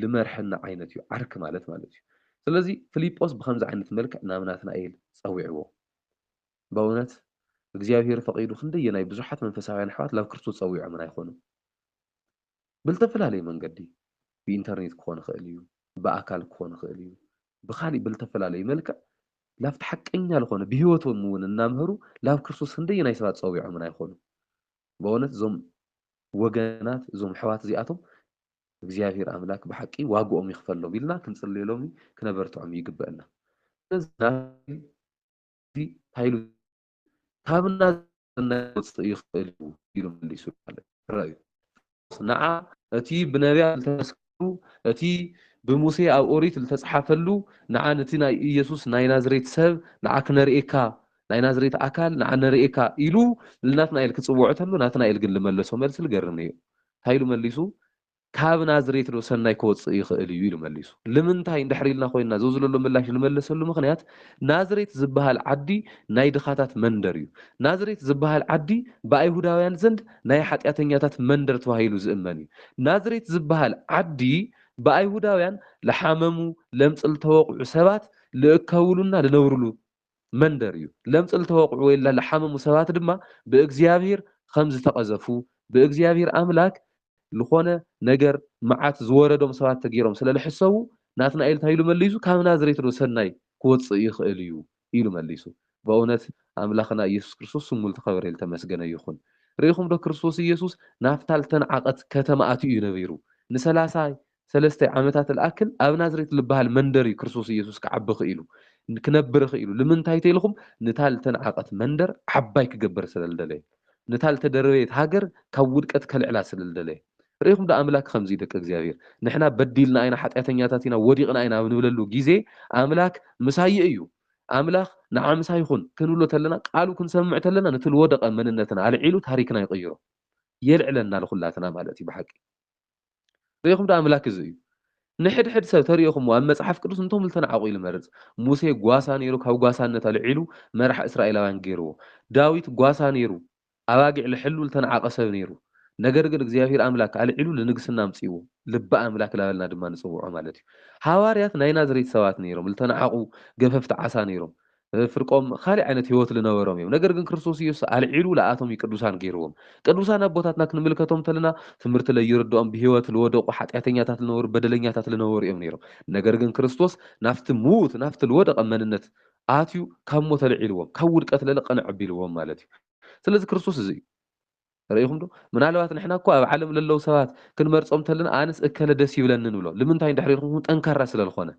ልመርሐና ዓይነት እዩ ዓርኪ ማለት ማለት እዩ ስለዚ ፍሊጶስ ብከምዚ ዓይነት መልክዕ ናብ ናትናኤል ፀዊዕዎ በእውነት እግዚኣብሄር ፈቒዱ ክንደየናይ ብዙሓት መንፈሳውያን ኣሕዋት ናብ ክርስቶስ ጸዊዖምና ይኾኑ። ብልተፈላለየ መንገዲ ብኢንተርኔት ክኾን ይኽእል እዩ፣ ብኣካል ክኾን ይኽእል እዩ፣ ብኻሊእ ብልተፈላለየ መልክዕ ላብቲ ሓቀኛ ልኾነ ብህይወቶም እውን እናምሀሩ ላብ ክርስቶስ ክንደየናይ ሰባት ጸዊዖምና ይኾኑ። በእውነት እዞም ወገናት እዞም ኣሕዋት እዚኣቶም እግዚኣብሄር ኣምላክ ብሓቂ ዋግኦም ይኽፈሎም ኢልና ክንጽልየሎም ክነበርትዖም ይግበእና። ስለዚ ናትናኤል እዚ እንታይ ኢሉ ካብና ክወጽእ ይኽእል እዩ ኢሉ መሊሱ ማለት ራእዩ ንዓ እቲ ብነቢያት ዝተመስከሩ እቲ ብሙሴ ኣብ ኦሪት ዝተጽሓፈሉ ንዓ ነቲ ናይ ኢየሱስ ናይ ናዝሬት ሰብ ንዓ ክነርእየካ ናይ ናዝሬት ኣካል ንዓ ነርእየካ ኢሉ ንናትናኤል ክጽውዖ ተሎ ናትናኤል ግን ዝመለሶ መልሲ ዝገርም እዩ እንታይ ኢሉ መሊሱ ካብ ናዝሬትዶ ሰናይ ክወጽእ ይኽእል እዩ? ኢሉ መሊሱ። ልምንታይ እንድሕር ኢልና ኮይንና ዘዝለሎ ምላሽ ንመልሰሉ ምኽንያት ናዝሬት ዝበሃል ዓዲ ናይ ድኻታት መንደር እዩ። ናዝሬት ዝበሃል ዓዲ ብኣይሁዳውያን ዘንድ ናይ ሓጢኣተኛታት መንደር ተባሂሉ ዝእመን እዩ። ናዝሬት ዝበሃል ዓዲ ብኣይሁዳውያን ልሓመሙ፣ ለምጽ ልተወቕዑ ሰባት ልእከብሉና ልነብርሉ መንደር እዩ። ለምጽ ልተወቕዑ ወይ ለሓመሙ ሰባት ድማ ብእግዚኣብሂር ኸም ዝተቐዘፉ፣ ብእግዚኣብሂር ኣምላክ ልኾነ ነገር መዓት ዝወረዶም ሰባት ተገይሮም ስለ ልሕሰቡ፣ ናትናኤል እንታይ ኢሉ መሊሱ፣ ካብ ናዝሬትዶ ሰናይ ክወጽእ ይኽእል እዩ? ኢሉ መሊሱ። በእውነት ኣምላኽና ኢየሱስ ክርስቶስ ስሙ ልተኸበረ ልተመስገነ ይኹን። ርኢኹምዶ ክርስቶስ ኢየሱስ ናፍታ ልተንዓቐት ከተማ ኣትዩ እዩ ነቢሩ። ንሰላሳ ሰለስተ ዓመታት ልኣክል ኣብ ናዝሬት ልበሃል መንደር እዩ ክርስቶስ ኢየሱስ ክዓቢ ኽኢሉ፣ ክነብር ኽኢሉ። ልምንታይ ተኢልኹም? ንታ ልተናዕቐት መንደር ዓባይ ክገብር ስለ ልደለየ። ንታ ልተደረበየት ሃገር ካብ ውድቀት ከልዕላ ስለ ልደለየ። ርኢኹም ዶ ኣምላክ ኸምዚ ደቂ እግዚኣብሔር ንሕና በዲልና ኢና ሓጢኣተኛታት ኢና ወዲቕና ኢና ኣብ ንብለሉ ጊዜ ኣምላክ ምሳየ እዩ ኣምላኽ ንዓ ምሳይ ኹን ክንብሎ ተለና ቃሉ ክንሰምዕ ተለና ነቲ ልወደቐ መንነትና ኣልዒሉ ታሪክና ይቕይሮ የልዕለና ልኹላትና ማለት እዩ ብሓቂ ርኢኹም ዶ ኣምላክ እዚ እዩ ንሕድሕድ ሰብ ተርኢኹምዎ ኣብ መጽሓፍ ቅዱስ እንቶም ልተናዕቁ ኢሉ መርጽ ሙሴ ጓሳ ነይሩ ካብ ጓሳነት ኣልዒሉ መራሕ እስራኤላውያን ገይርዎ ዳዊት ጓሳ ነይሩ ኣባጊዕ ልሕሉ ልተናዓቀ ሰብ ነይሩ ነገር ግን እግዚኣብሔር ኣምላክ ኣልዒሉ ልንግስና ኣምጺእዎ ልቢ ኣምላክ ላበልና ድማ ንጽውዖ ማለት እዩ ሃዋርያት ናይ ናዝሬት ሰባት ነይሮም ልተናዓቁ ገፈፍቲ ዓሳ ነይሮም ፍርቆም ኻሊእ ዓይነት ህይወት ልነበሮም እዮም ነገር ግን ክርስቶስ ኢየሱስ ኣልዒሉ ልኣቶም እዩ ቅዱሳን ገይርዎም ቅዱሳን ኣቦታትና ክንምልከቶም ተለና ትምህርቲ ለይርድኦም ብህይወት ልወደቁ ሓጢኣተኛታት ልነበሩ በደለኛታት ልነበሩ እዮም ነይሮም ነገር ግን ክርስቶስ ናፍቲ ምዉት ናፍቲ ልወደቀ መንነት ኣትዩ ካብ ሞት ኣልዒልዎም ካብ ውድቀት ለለቀነ ኣቢልዎም ማለት እዩ ስለዚ ክርስቶስ እዚ እዩ ርኢኹም ዶ? ምናልባት ንሕና እኮ ኣብ ዓለም ለለዉ ሰባት ክንመርጾም ተለና ኣንስ እከለ ደስ ይብለኒ ንብሎ ልምንታይ እንድሕሪ ኢልኩም ጠንካራ ስለ ልኾነ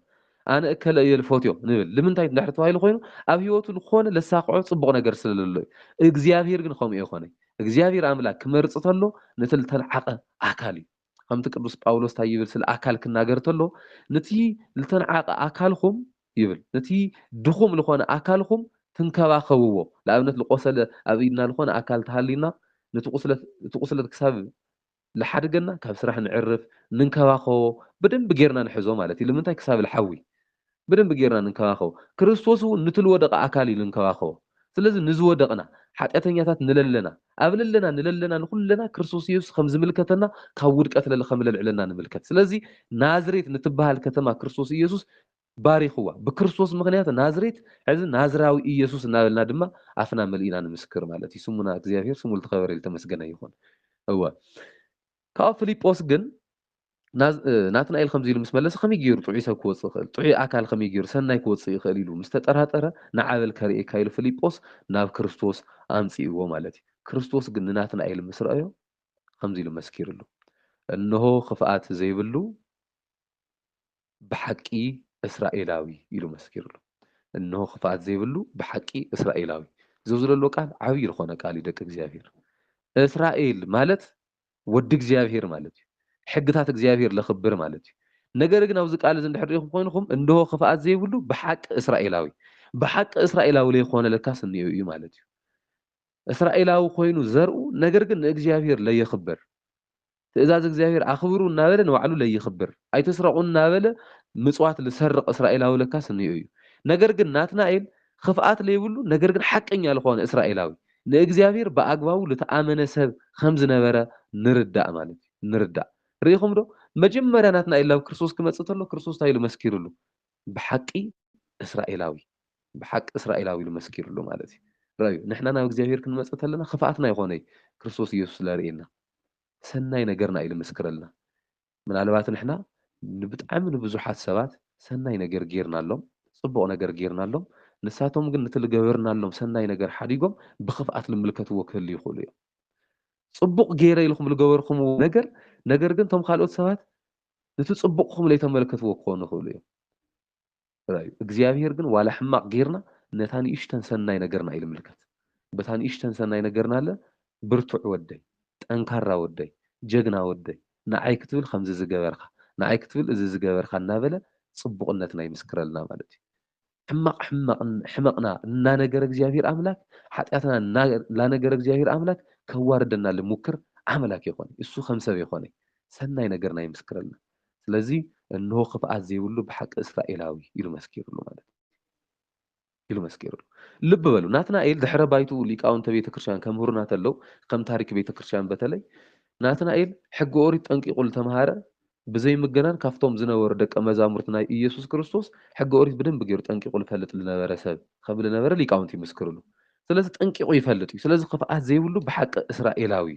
ኣነ እከለ እየ ልፎትዮ ንብል ልምንታይ እንድሕሪ ተባሂሉ ኮይኑ ኣብ ሂወቱ ልኾነ ለሳኽዖ ጽቡቕ ነገር ስለ ለሎ እዩ እግዚኣብሄር ግን ኸምኡ ኣይኾነይ እግዚኣብሄር ኣምላክ ክመርጽ ተሎ ነቲ ልተልዓቀ ኣካል እዩ ከምቲ ቅዱስ ጳውሎስ እንታይ ይብል ስለ ኣካል ክናገር ተሎ ንቲ ልተንዓቀ ኣካልኩም ይብል ንቲ ድኹም ልኾነ ኣካልኩም ትንከባከብዎ ልኣብነት ልቆሰለ ኣብ ኢድና ልኾነ ኣካል ተሃልዩና ንቲ ቁስለት እቲ ቁስለት ክሳብ ልሓድገና ካብ ስራሕ ንዕርፍ ንንከባከቦ ብደንቢ ጌርና ንሕዞ ማለት እዩ ልምንታይ ክሳብ ልሓዊ ብደንቢ ጌርና ንንከባኸቦ። ክርስቶስ እውን ኑቲ ልወደቐ ኣካል እዩ ልንከባኸቦ። ስለዚ ንዝወደቕና፣ ሓጢኣተኛታት ንለለና፣ ኣብ ለለና ንለለና ንኹለና ክርስቶስ ኢየሱስ ከም ዝምልከተና ካብ ውድቀት ለለ ከም ለልዕለና ንምልከት። ስለዚ ናዝሬት ንትበሃል ከተማ ክርስቶስ ኢየሱስ ባሪኹዋ። ብክርስቶስ ምኽንያት ናዝሬት ሕዚ ናዝራዊ ኢየሱስ እናበልና ድማ ኣፍና መሊእና ንምስክር ማለት እዩ። ስሙና እግዚኣብሔር ስሙ ልተኸበረ ልተመስገነ ይኹን። እወ። ካብኡ ፍሊጶስ ግን ናትናኤል ከምዚ ኢሉ ምስ መለሰ ከመይ ገይሩ ጥዑይ ሰብ ክወጽእ ይኽእል? ጥዑይ ኣካል ከመይ ገይሩ ሰናይ ክወጽእ ይኽእል? ኢሉ ምስ ተጠራጠረ ንዓ በል ከርእየካ ኢሉ ፍሊጶስ ናብ ክርስቶስ ኣምጽእዎ ማለት እዩ። ክርስቶስ ግን ንናትናኤል ምስ ረኣዮ ከምዚ ኢሉ መስኪርሉ እንሆ ክፍኣት ዘይብሉ ብሓቂ እስራኤላዊ ኢሉ መስኪርሉ። እንሆ ክፍኣት ዘይብሉ ብሓቂ እስራኤላዊ። እዚ ኣብዚ ዘሎ ቃል ዓብዪ ዝኾነ ቃል እዩ ደቂ እግዚኣብሔር። እስራኤል ማለት ወዲ እግዚኣብሄር ማለት እዩ። ሕግታት እግዚኣብሄር ለኽብር ማለት እዩ። ነገር ግን ኣብዚ ቃል እዚ እንድሕር ርኢኹም ኾይንኹም እንሆ ኽፍኣት ዘይብሉ ብሓቂ እስራኤላዊ ብሓቂ እስራኤላዊ ለይኾነ ለካስ እኒኦ እዩ ማለት እዩ። እስራኤላዊ ኮይኑ ዘርኡ ነገር ግን ንእግዚኣብሄር ለየኽብር ትእዛዝ እግዚኣብሄር ኣኽብሩ እናበለ ንባዕሉ ለይኽብር ኣይትስረቑ እናበለ ምፅዋት ልሰርቕ እስራኤላዊ ለካስ እኒኦ እዩ። ነገር ግን ናትናኤል ኽፍኣት ለይብሉ ነገር ግን ሓቀኛ ልኾነ እስራኤላዊ ንእግዚኣብሔር ብኣግባቡ ልተኣመነ ሰብ ኸም ዝነበረ ንርዳእ ማለት እዩ። ንርዳእ። ርኢኹምዶ? መጀመርያ ናትናኤል ናብ ክርስቶስ ክመጽእ ተሎ ክርስቶስ እንታይ ኢሉ መስኪሩሉ? ብሓቂ እስራኤላዊ። ብሓቂ እስራኤላዊ ኢሉ መስኪሩሉ ማለት እዩ። ርኣዩ፣ ንሕና ናብ እግዚኣብሔር ክንመጽእ ተለና ኽፍኣትና ኣይኾነይ ክርስቶስ ኢየሱስ ለርእየና። ሰናይ ነገርና እዩ ልምስክረልና። ምናልባት ንሕና ንብጣዕሚ ንብዙሓት ሰባት ሰናይ ነገር ገይርናሎም፣ ጽቡቕ ነገር ገይርናሎም፣ ንሳቶም ግን ነቲ ልገበርናሎም ሰናይ ነገር ሓዲጎም ብኽፍኣት ልምልከትዎ ክህልዩ ይኽእሉ እዮም። ጽቡቕ ገይረ ኢልኹም ልገበርኩምዎ ነገር፣ ነገር ግን እቶም ካልኦት ሰባት ነቲ ጽቡቕኩም ለይተመልከትዎ ክኾኑ ይኽእሉ እዮም። ጥራይ እዩ። እግዚኣብሄር ግን ዋላ ሕማቕ ጌርና ነታ ንእሽተን ሰናይ ነገርና እዩ ልምልከት። በታ ንእሽተን ሰናይ ነገርና እለ ብርቱዕ ወደይ፣ ጠንካራ ወደይ፣ ጀግና ወደይ፣ ንዓይ ክትብል ከምዚ ዝገበርካ፣ ንዓይ ክትብል እዚ ዝገበርካ እናበለ ጽቡቕነትና ይምስክረልና ማለት እዩ። ሕማቕ ሕማቕ ሕመቕና እናነገረ እግዚኣብሄር ኣምላክ ሓጢኣትና እና ላነገረ እግዚኣብሄር ኣምላክ ከዋርደና ልሙክር ኣምላክ የኾነይ። እሱ ከም ሰብ የኾነይ። ሰናይ ነገርና ይምስክረልና። ስለዚ እንሆ ክፍኣት ዘይብሉ ብሓቂ እስራኤላዊ ኢሉ መስኪርሉ ማለት እዩ ኢሉ መስኪርሉ። ልብ በሉ ናትናኤል ድሕረ ባይትኡ ሊቃውንተ ቤተ ክርስቲያን ከምህሩና ተለው ከም ታሪክ ቤተ ክርስቲያን በተለይ ናትናኤል ሕጊ ኦሪት ጠንቂቁ ልተምሃረ ብዘይ ምግናን ካብቶም ዝነበሩ ደቀ መዛሙርት ናይ ኢየሱስ ክርስቶስ ሕጊ ኦሪት ብደንብ ገይሩ ጠንቂቁ ልፈልጥ ልነበረ ሰብ ከም ልነበረ ሊቃውንት ይምስክርሉ። ስለዚ ጠንቂቑ ይፈልጥ እዩ፣ ስለዚ ኽፍኣት ዘይብሉ ብሓቂ እስራኤላዊ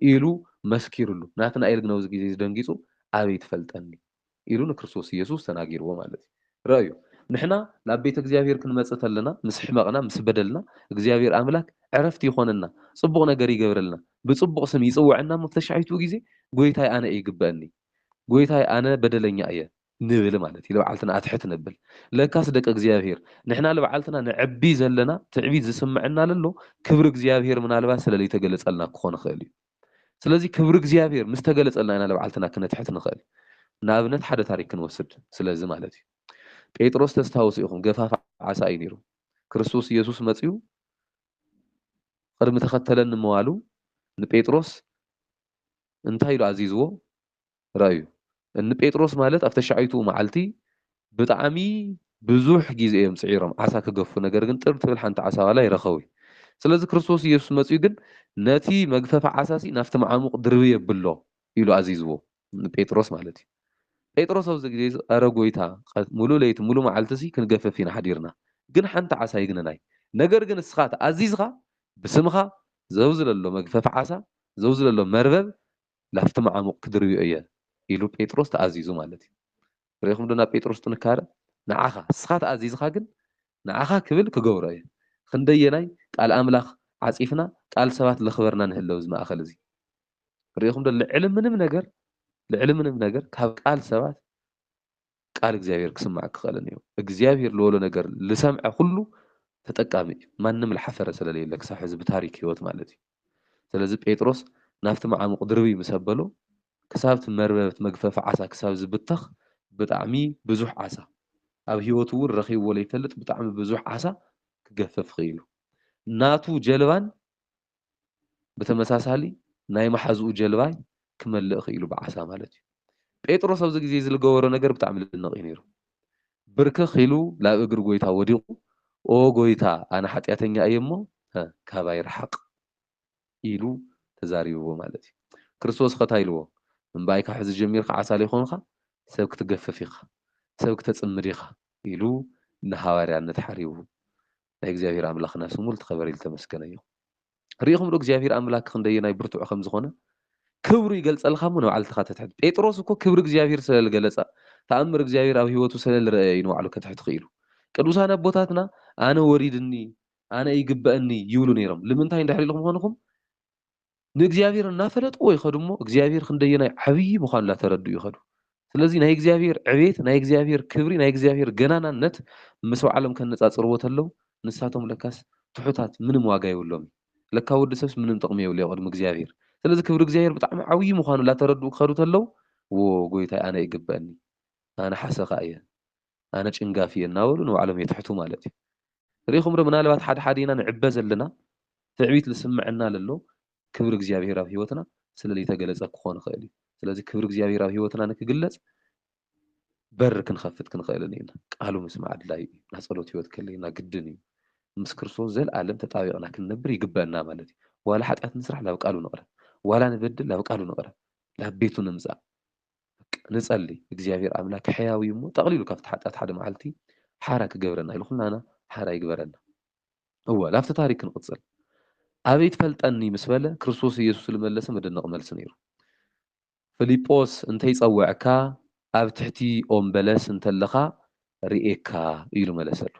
እዩ ኢሉ መስኪሩሉ። ናትናኤል ግን ኣብዚ ግዜ እዚ ደንጊጹ ኣበይ ትፈልጠኒ ኢሉ ንክርስቶስ ኢየሱስ ተናጊርዎ ማለት እዩ። ርኣዩ ንሕና ናብ ቤተ እግዚኣብሔር ክንመጽእ ተለና ምስ ሕመቕና ምስ በደልና እግዚኣብሔር ኣምላክ ዕረፍቲ ይኾነና ጽቡቕ ነገር ይገብረልና ብጽቡቕ ስም ይጽውዐና እሞ ተሻሒቱ ግዜ ጎይታይ ኣነ እይግበእኒ ጎይታይ ኣነ በደለኛ እየ ንብል ማለት እዩ ልብዓልትና ኣትሕት ነብል ለካስ ደቂ እግዚኣብሔር ንሕና ልብዓልትና ነዕቢ ዘለና ትዕቢት ዝስመዐና ለሎ ክብሪ እግዚኣብሔር ምናልባት ስለ ለይተገለፀልና ክኾን ይኽእል እዩ ስለዚ ክብሪ እግዚኣብሔር ምስ ተገለፀልና ኢና ልብዓልትና ክነትሕት ንኽእል ንኣብነት ሓደ ታሪክ ክንወስድ ስለዚ ማለት እዩ ጴጥሮስ ተስታውሱ ኢኹም ገፋፍ ዓሳ እዩ ነይሩ ክርስቶስ ኢየሱስ መፅኡ ቅድሚ ተኸተለኒ ምባሉ ንጴጥሮስ እንታይ ኢሉ ኣዚዝዎ ርኣዩ። እኒ ጴጥሮስ ማለት ኣብ ተሻዐይቱኡ መዓልቲ ብጣዕሚ ብዙሕ ጊዜ እዮም ጽዒሮም ዓሣ ክገፉ ነገር ግን ጥር ትብል ሓንቲ ዓሣ ዋላ ኣይረኸቡይ። ስለዚ ክርስቶስ ኢየሱስ መጺኡ ግን ነቲ መግፈፊ ዓሣሲ ናፍቲ መዓሙቕ ድርብይ ኣብሎ ኢሉ ኣዚዝዎ ን ጴጥሮስ ማለት እዩ። ጴጥሮስ ኣብዚ ጊዜዚ ኣረ ጎይታ ቐት ምሉእ ለይቲ ምሉእ መዓልቲሲ ክንገፍፍ ኢና ሓዲርና ግን ሓንቲ ዓሣ ኣይግነናይ ነገር ግን እስኻ ተኣዚዝኻ ብስምኻ ዘውዝለሎ መግፈፊ ዓሣ ዘውዝለሎ መርበብ ላፍቲ መዓሙቕ ክድርብዮ እየ ኢሉ ጴጥሮስ ተኣዚዙ ማለት እዩ። ርኢኹምዶ ናብ ጴጥሮስ ጥንካረ? ንዓኻ፣ እስኻ ተኣዚዝኻ ግን ንዓኻ ክብል ክገብሮ እየ። ኽንደየናይ ቃል ኣምላኽ ዓጺፍና ቃል ሰባት ለኽበርና ንህለው እዚ ማእከል እዚ። ርኢኹምዶ ልዕሊ ምንም ነገር ልዕሊ ምንም ነገር ካብ ቃል ሰባት ቃል እግዚኣብሔር ክስማዕ ክኸእልን እዩ እግዚኣብሔር ልወሎ ነገር ልሰምዐ ኹሉ ተጠቃሚ እዩ ማንም ልሓፈረ ሰለለየለ ክሳብ ሕዚ ብታሪክ ሕይወት ማለት እዩ ሰለዚ ጴጥሮስ ናፍቲ መዓሙቕ ድርብይ ምስ ኣበሎ ክሳብቲ መርበብት መግፈፊ ዓሳ ክሳብ ዝብተኽ ብጣዕሚ ብዙሕ ዓሳ ኣብ ሕይወቱ እውን ረኺብዎ ለይፈልጥ ብጣዕሚ ብዙሕ ዓሳ ክገፈፍ ኽኢሉ ናቱ ጀልባን ብተመሳሳሊ ናይ መሓዝኡ ጀልባይ ክመልእ ክኢሉ ብዓሳ ማለት እዩ። ጴጥሮስ ኣብዚ ግዜ እዚ ልገበሮ ነገር ብጣዕሚ ልድነቕ እዩ ነይሩ። ብርክኽ ኢሉ ላብ እግሪ ጎይታ ወዲቑ ኦ ጎይታ ኣነ ሓጢኣተኛ እየ እሞ ካባይ ርሓቕ ኢሉ ተዛሪብዎ ማለት እዩ። ክርስቶስ ኸ ታይ ኢልዎ እምበኣይ ካብ ሕዚ ጀሚርካ ዓሳሊ ኾንኻ ሰብ ክትገፍፍ ኢኻ ሰብ ክተጽምድ ኢኻ ኢሉ ንሃዋርያነት ሓሪቡ ናይ እግዚኣብሄር ኣምላኽና ስሙ ልተኸበረይ ልተመስገነ ይኹን። ርኢኹምዶ እግዚኣብሄር ኣምላክ ክንደየናይ ብርቱዕ ከም ዝኾነ? ክብሩ ይገልጸልካ እሞ ንባዕሉ ተኻተት ሕድ። ጴጥሮስ እኮ ክብሪ እግዚኣብሄር ስለ ልገለጸ ተኣምር እግዚኣብሄር ኣብ ህይወቱ ስለ ልረኣየ እዩ ንባዕሉ ከትሕት ክኢሉ። ቅዱሳን ኣቦታትና ኣነ ወሪድኒ ኣነ ይግበእኒ ይብሉ ነይሮም ልምንታይ እንድሕሪ ኢልኩም ኾንኹም? ንእግዚኣብሔር እናፈለጥዎ ይኸዱ እሞ እግዚኣብሔር ክንደየናይ ዓብዪ ምዃኑ እናተረድኡ ይኸዱ። ስለዚ ናይ እግዚኣብሔር ዕቤት፣ ናይ እግዚኣብሔር ክብሪ፣ ናይ እግዚኣብሔር ገናናነት ምስ ባዕሎም ከነጻጽርዎ ተለው ንሳቶም ለካስ ትሑታት ምንም ዋጋ የብሎምን። ለካ ወዲ ሰብስ ምንም ጥቕሚ የብሉ ኣብ ቅድሚ እግዚኣብሔር። ስለዚ ክብሪ እግዚኣብሔር ብጣዕሚ ዓብዪ ምዃኑ ላተረድኡ ክኸዱ ተለው ዎው ጎይታይ ኣነ ይግበእኒ ኣነ ሓሰኻ እየ ኣነ ጭንጋፍ እየ እናበሉ ንባዕሎም የትሕቱ ማለት እዩ። ርኢኹም ዶ ምናልባት ሓድሓዲና ንዕበ ዘለና ትዕቢት ልስመዐና ለሎ ክብሪ እግዚኣብሄር ኣብ ህይወትና ስለ ልይተገለፀ ክኾን ይኽእል እዩ። ስለዚ ክብሪ እግዚኣብሄር ኣብ ህይወትና ንክግለፅ በር ክንኸፍት ክንኽእል እኒኢና። ቃሉ ምስማዕ ኣድላይ እዩ። ናይ ፀሎት ህይወት ከለይና ግድን እዩ። ምስ ክርስቶስ ዘልኣለም ተጣቢቕና ክንነብር ይግበእና ማለት እዩ። ዋላ ሓጢኣት ንስራሕ ላብ ቃሉ ንቕረብ። ዋላ ንበድል ላብ ቃሉ ንቕረብ። ላብ ቤቱ ንምፃእ። በቃ ንጸሊ እግዚኣብሔር ኣምላክ ሕያው እዩ እሞ ጠቅሊሉ ካብቲ ሓጢኣት ሓደ መዓልቲ ሓራ ክገብረና ኢሉ ኩላና ሓራ ይግበረና እወ ናብቲ ታሪክ ክንቅጽል ኣበይ ትፈልጠኒ ምስ በለ ክርስቶስ ኢየሱስ ዝመለሰ መደነቂ መልሲ ነይሩ ፍሊጶስ እንተይጸወዐካ ኣብ ትሕቲ ኦም በለስ እንተለካ ርኤካ ኢሉ መለሰሉ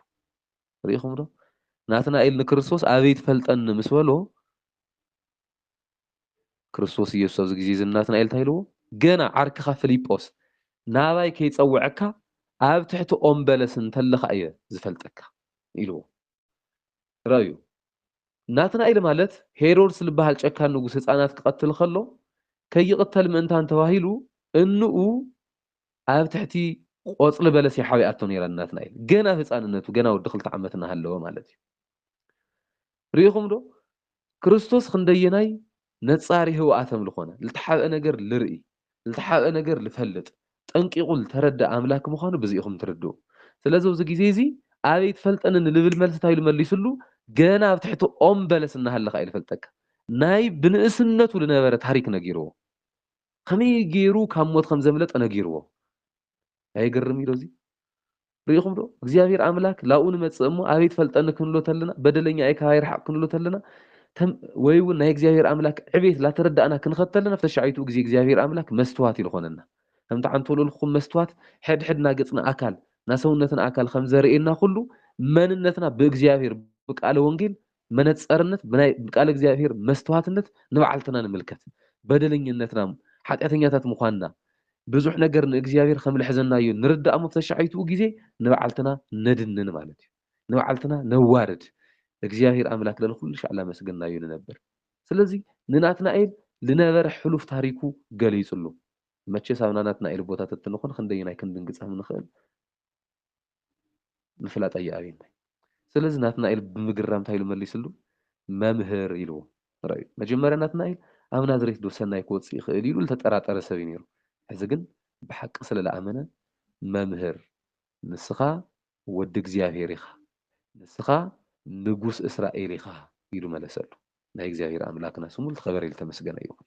ርኢኹም ዶ ናትናኤል ንክርስቶስ ኣበይ ትፈልጠኒ ምስ በሎ ክርስቶስ ኢየሱስ ኣብዚ ግዜ እዚ ናትናኤል እንታይ ኢልዎ? ገና ዓርክኻ ፍሊጶስ ናባይ ከይጸውዐካ ኣብ ትሕቲ ኦም በለስ እንተለኻ እየ ዝፈልጠካ ኢልዎ። ርኣዩ ናትናኤል ማለት ሄሮድስ ዝበሃል ጨካን ንጉስ ህጻናት ክቐትል ከሎ ከይቕተል ምእንታን ተባሂሉ እንኡ ኣብ ትሕቲ ቆጽሊ በለስ እያ ሓቢኣቶ ነይራ ንናትናኤል ገና ኣብ ህጻንነቱ ገና ወዲ ክልተ ዓመት እናሃለወ ማለት እዩ። ርኢኹም ዶ ክርስቶስ ኽንደየናይ ነጻሪ ህውኣተም ልኾነ፣ ልተሓብአ ነገር ልርኢ፣ ልተሓብአ ነገር ልፈልጥ፣ ጠንቂቑ ልተረድኣ ኣምላክ ምዃኑ ብዚ ኢኹም ትርድኡ። ስለዚ ኣብዚ ጊዜ እዚ ኣበይ ኣይትፈልጠንን ንልብል መልሲ እንታይ ኢሉ መሊሱሉ፣ ገና ኣብ ትሕቲ ኦም በለስ እናሃለኻ እየ ልፈልጠካ። ናይ ብንእስነቱ ልነበረ ታሪክ ነጊርዎ። ኸመይ ገይሩ ካብ ሞት ኸም ዘምለጠ ነጊርዎ። ኣየገርም ኢዶ እዚ ርኢኹም ዶ እግዚኣብሔር ኣምላክ ላብኡ ንመጽእ እሞ ኣበይ ትፈልጠኒ ክንብሎ ተለና በደለኛ እየ ካባይ ርሓቅ ክንብሎ ተለና ወይ እውን ናይ እግዚኣብሔር ኣምላክ ዕቤት ላተረዳእና ክንኸተለና ኣብ ተሻዒቱ ግዜ እግዚኣብሔር ኣምላክ መስትዋት ኢልኾነና ከምቲ ሓንቲ ወልወልኩም መስትዋት ሕድሕድና ገጽና ኣካል ናሰውነትና ኣካል ከም ዘርእየና ኩሉ መንነትና ብእግዚኣብሔር ብቃለ ወንጌል መነጸርነት ብናይ ቃለ እግዚኣብሔር መስተዋትነት ንባዕልትና ንምልከት በደለኝነትና ሓጢኣተኛታት ምዃንና ብዙሕ ነገር ንእግዚኣብሔር ከም ልሕዘናዮ ንርዳእ እሞ ተሻሒትኡ ግዜ ንባዕልትና ነድንን ማለት እዩ ንባዕልትና ነዋርድ እግዚኣብሔር ኣምላክ ለልኩልሻዕ ላመስገናዮ ንነብር ስለዚ ንናትናኤል ልነበረ ሕሉፍ ታሪኩ ገሊጽሉ መቸስ ኣብ ናናትናኤል ቦታ ተትንኹን ክንደየናይ ክንድንግጸም ንኽእል ምፍላጥ ኣይኣብይን ታይ ስለዚ ናትናኤል ብምግራም ታይ ኢሉ መሊስሉ መምህር ኢልዎ ረኣዩ መጀመርያ ናትናኤል ኣብ ናዝሬት ዶ ሰናይ ክወጽእ ይኽእል ኢሉ ልተጠራጠረ ሰብ እዩ ነይሩ ሕዚ ግን ብሓቂ ስለ ልኣመነ መምህር ንስኻ ወዲ እግዚኣብሄር ኢኻ ንስኻ ንጉስ እስራኤል ኢኻ ኢሉ መለሰሉ ናይ እግዚኣብሄር ኣምላክና ስሙ ልተኸበረ ልተመስገነ ይኹን።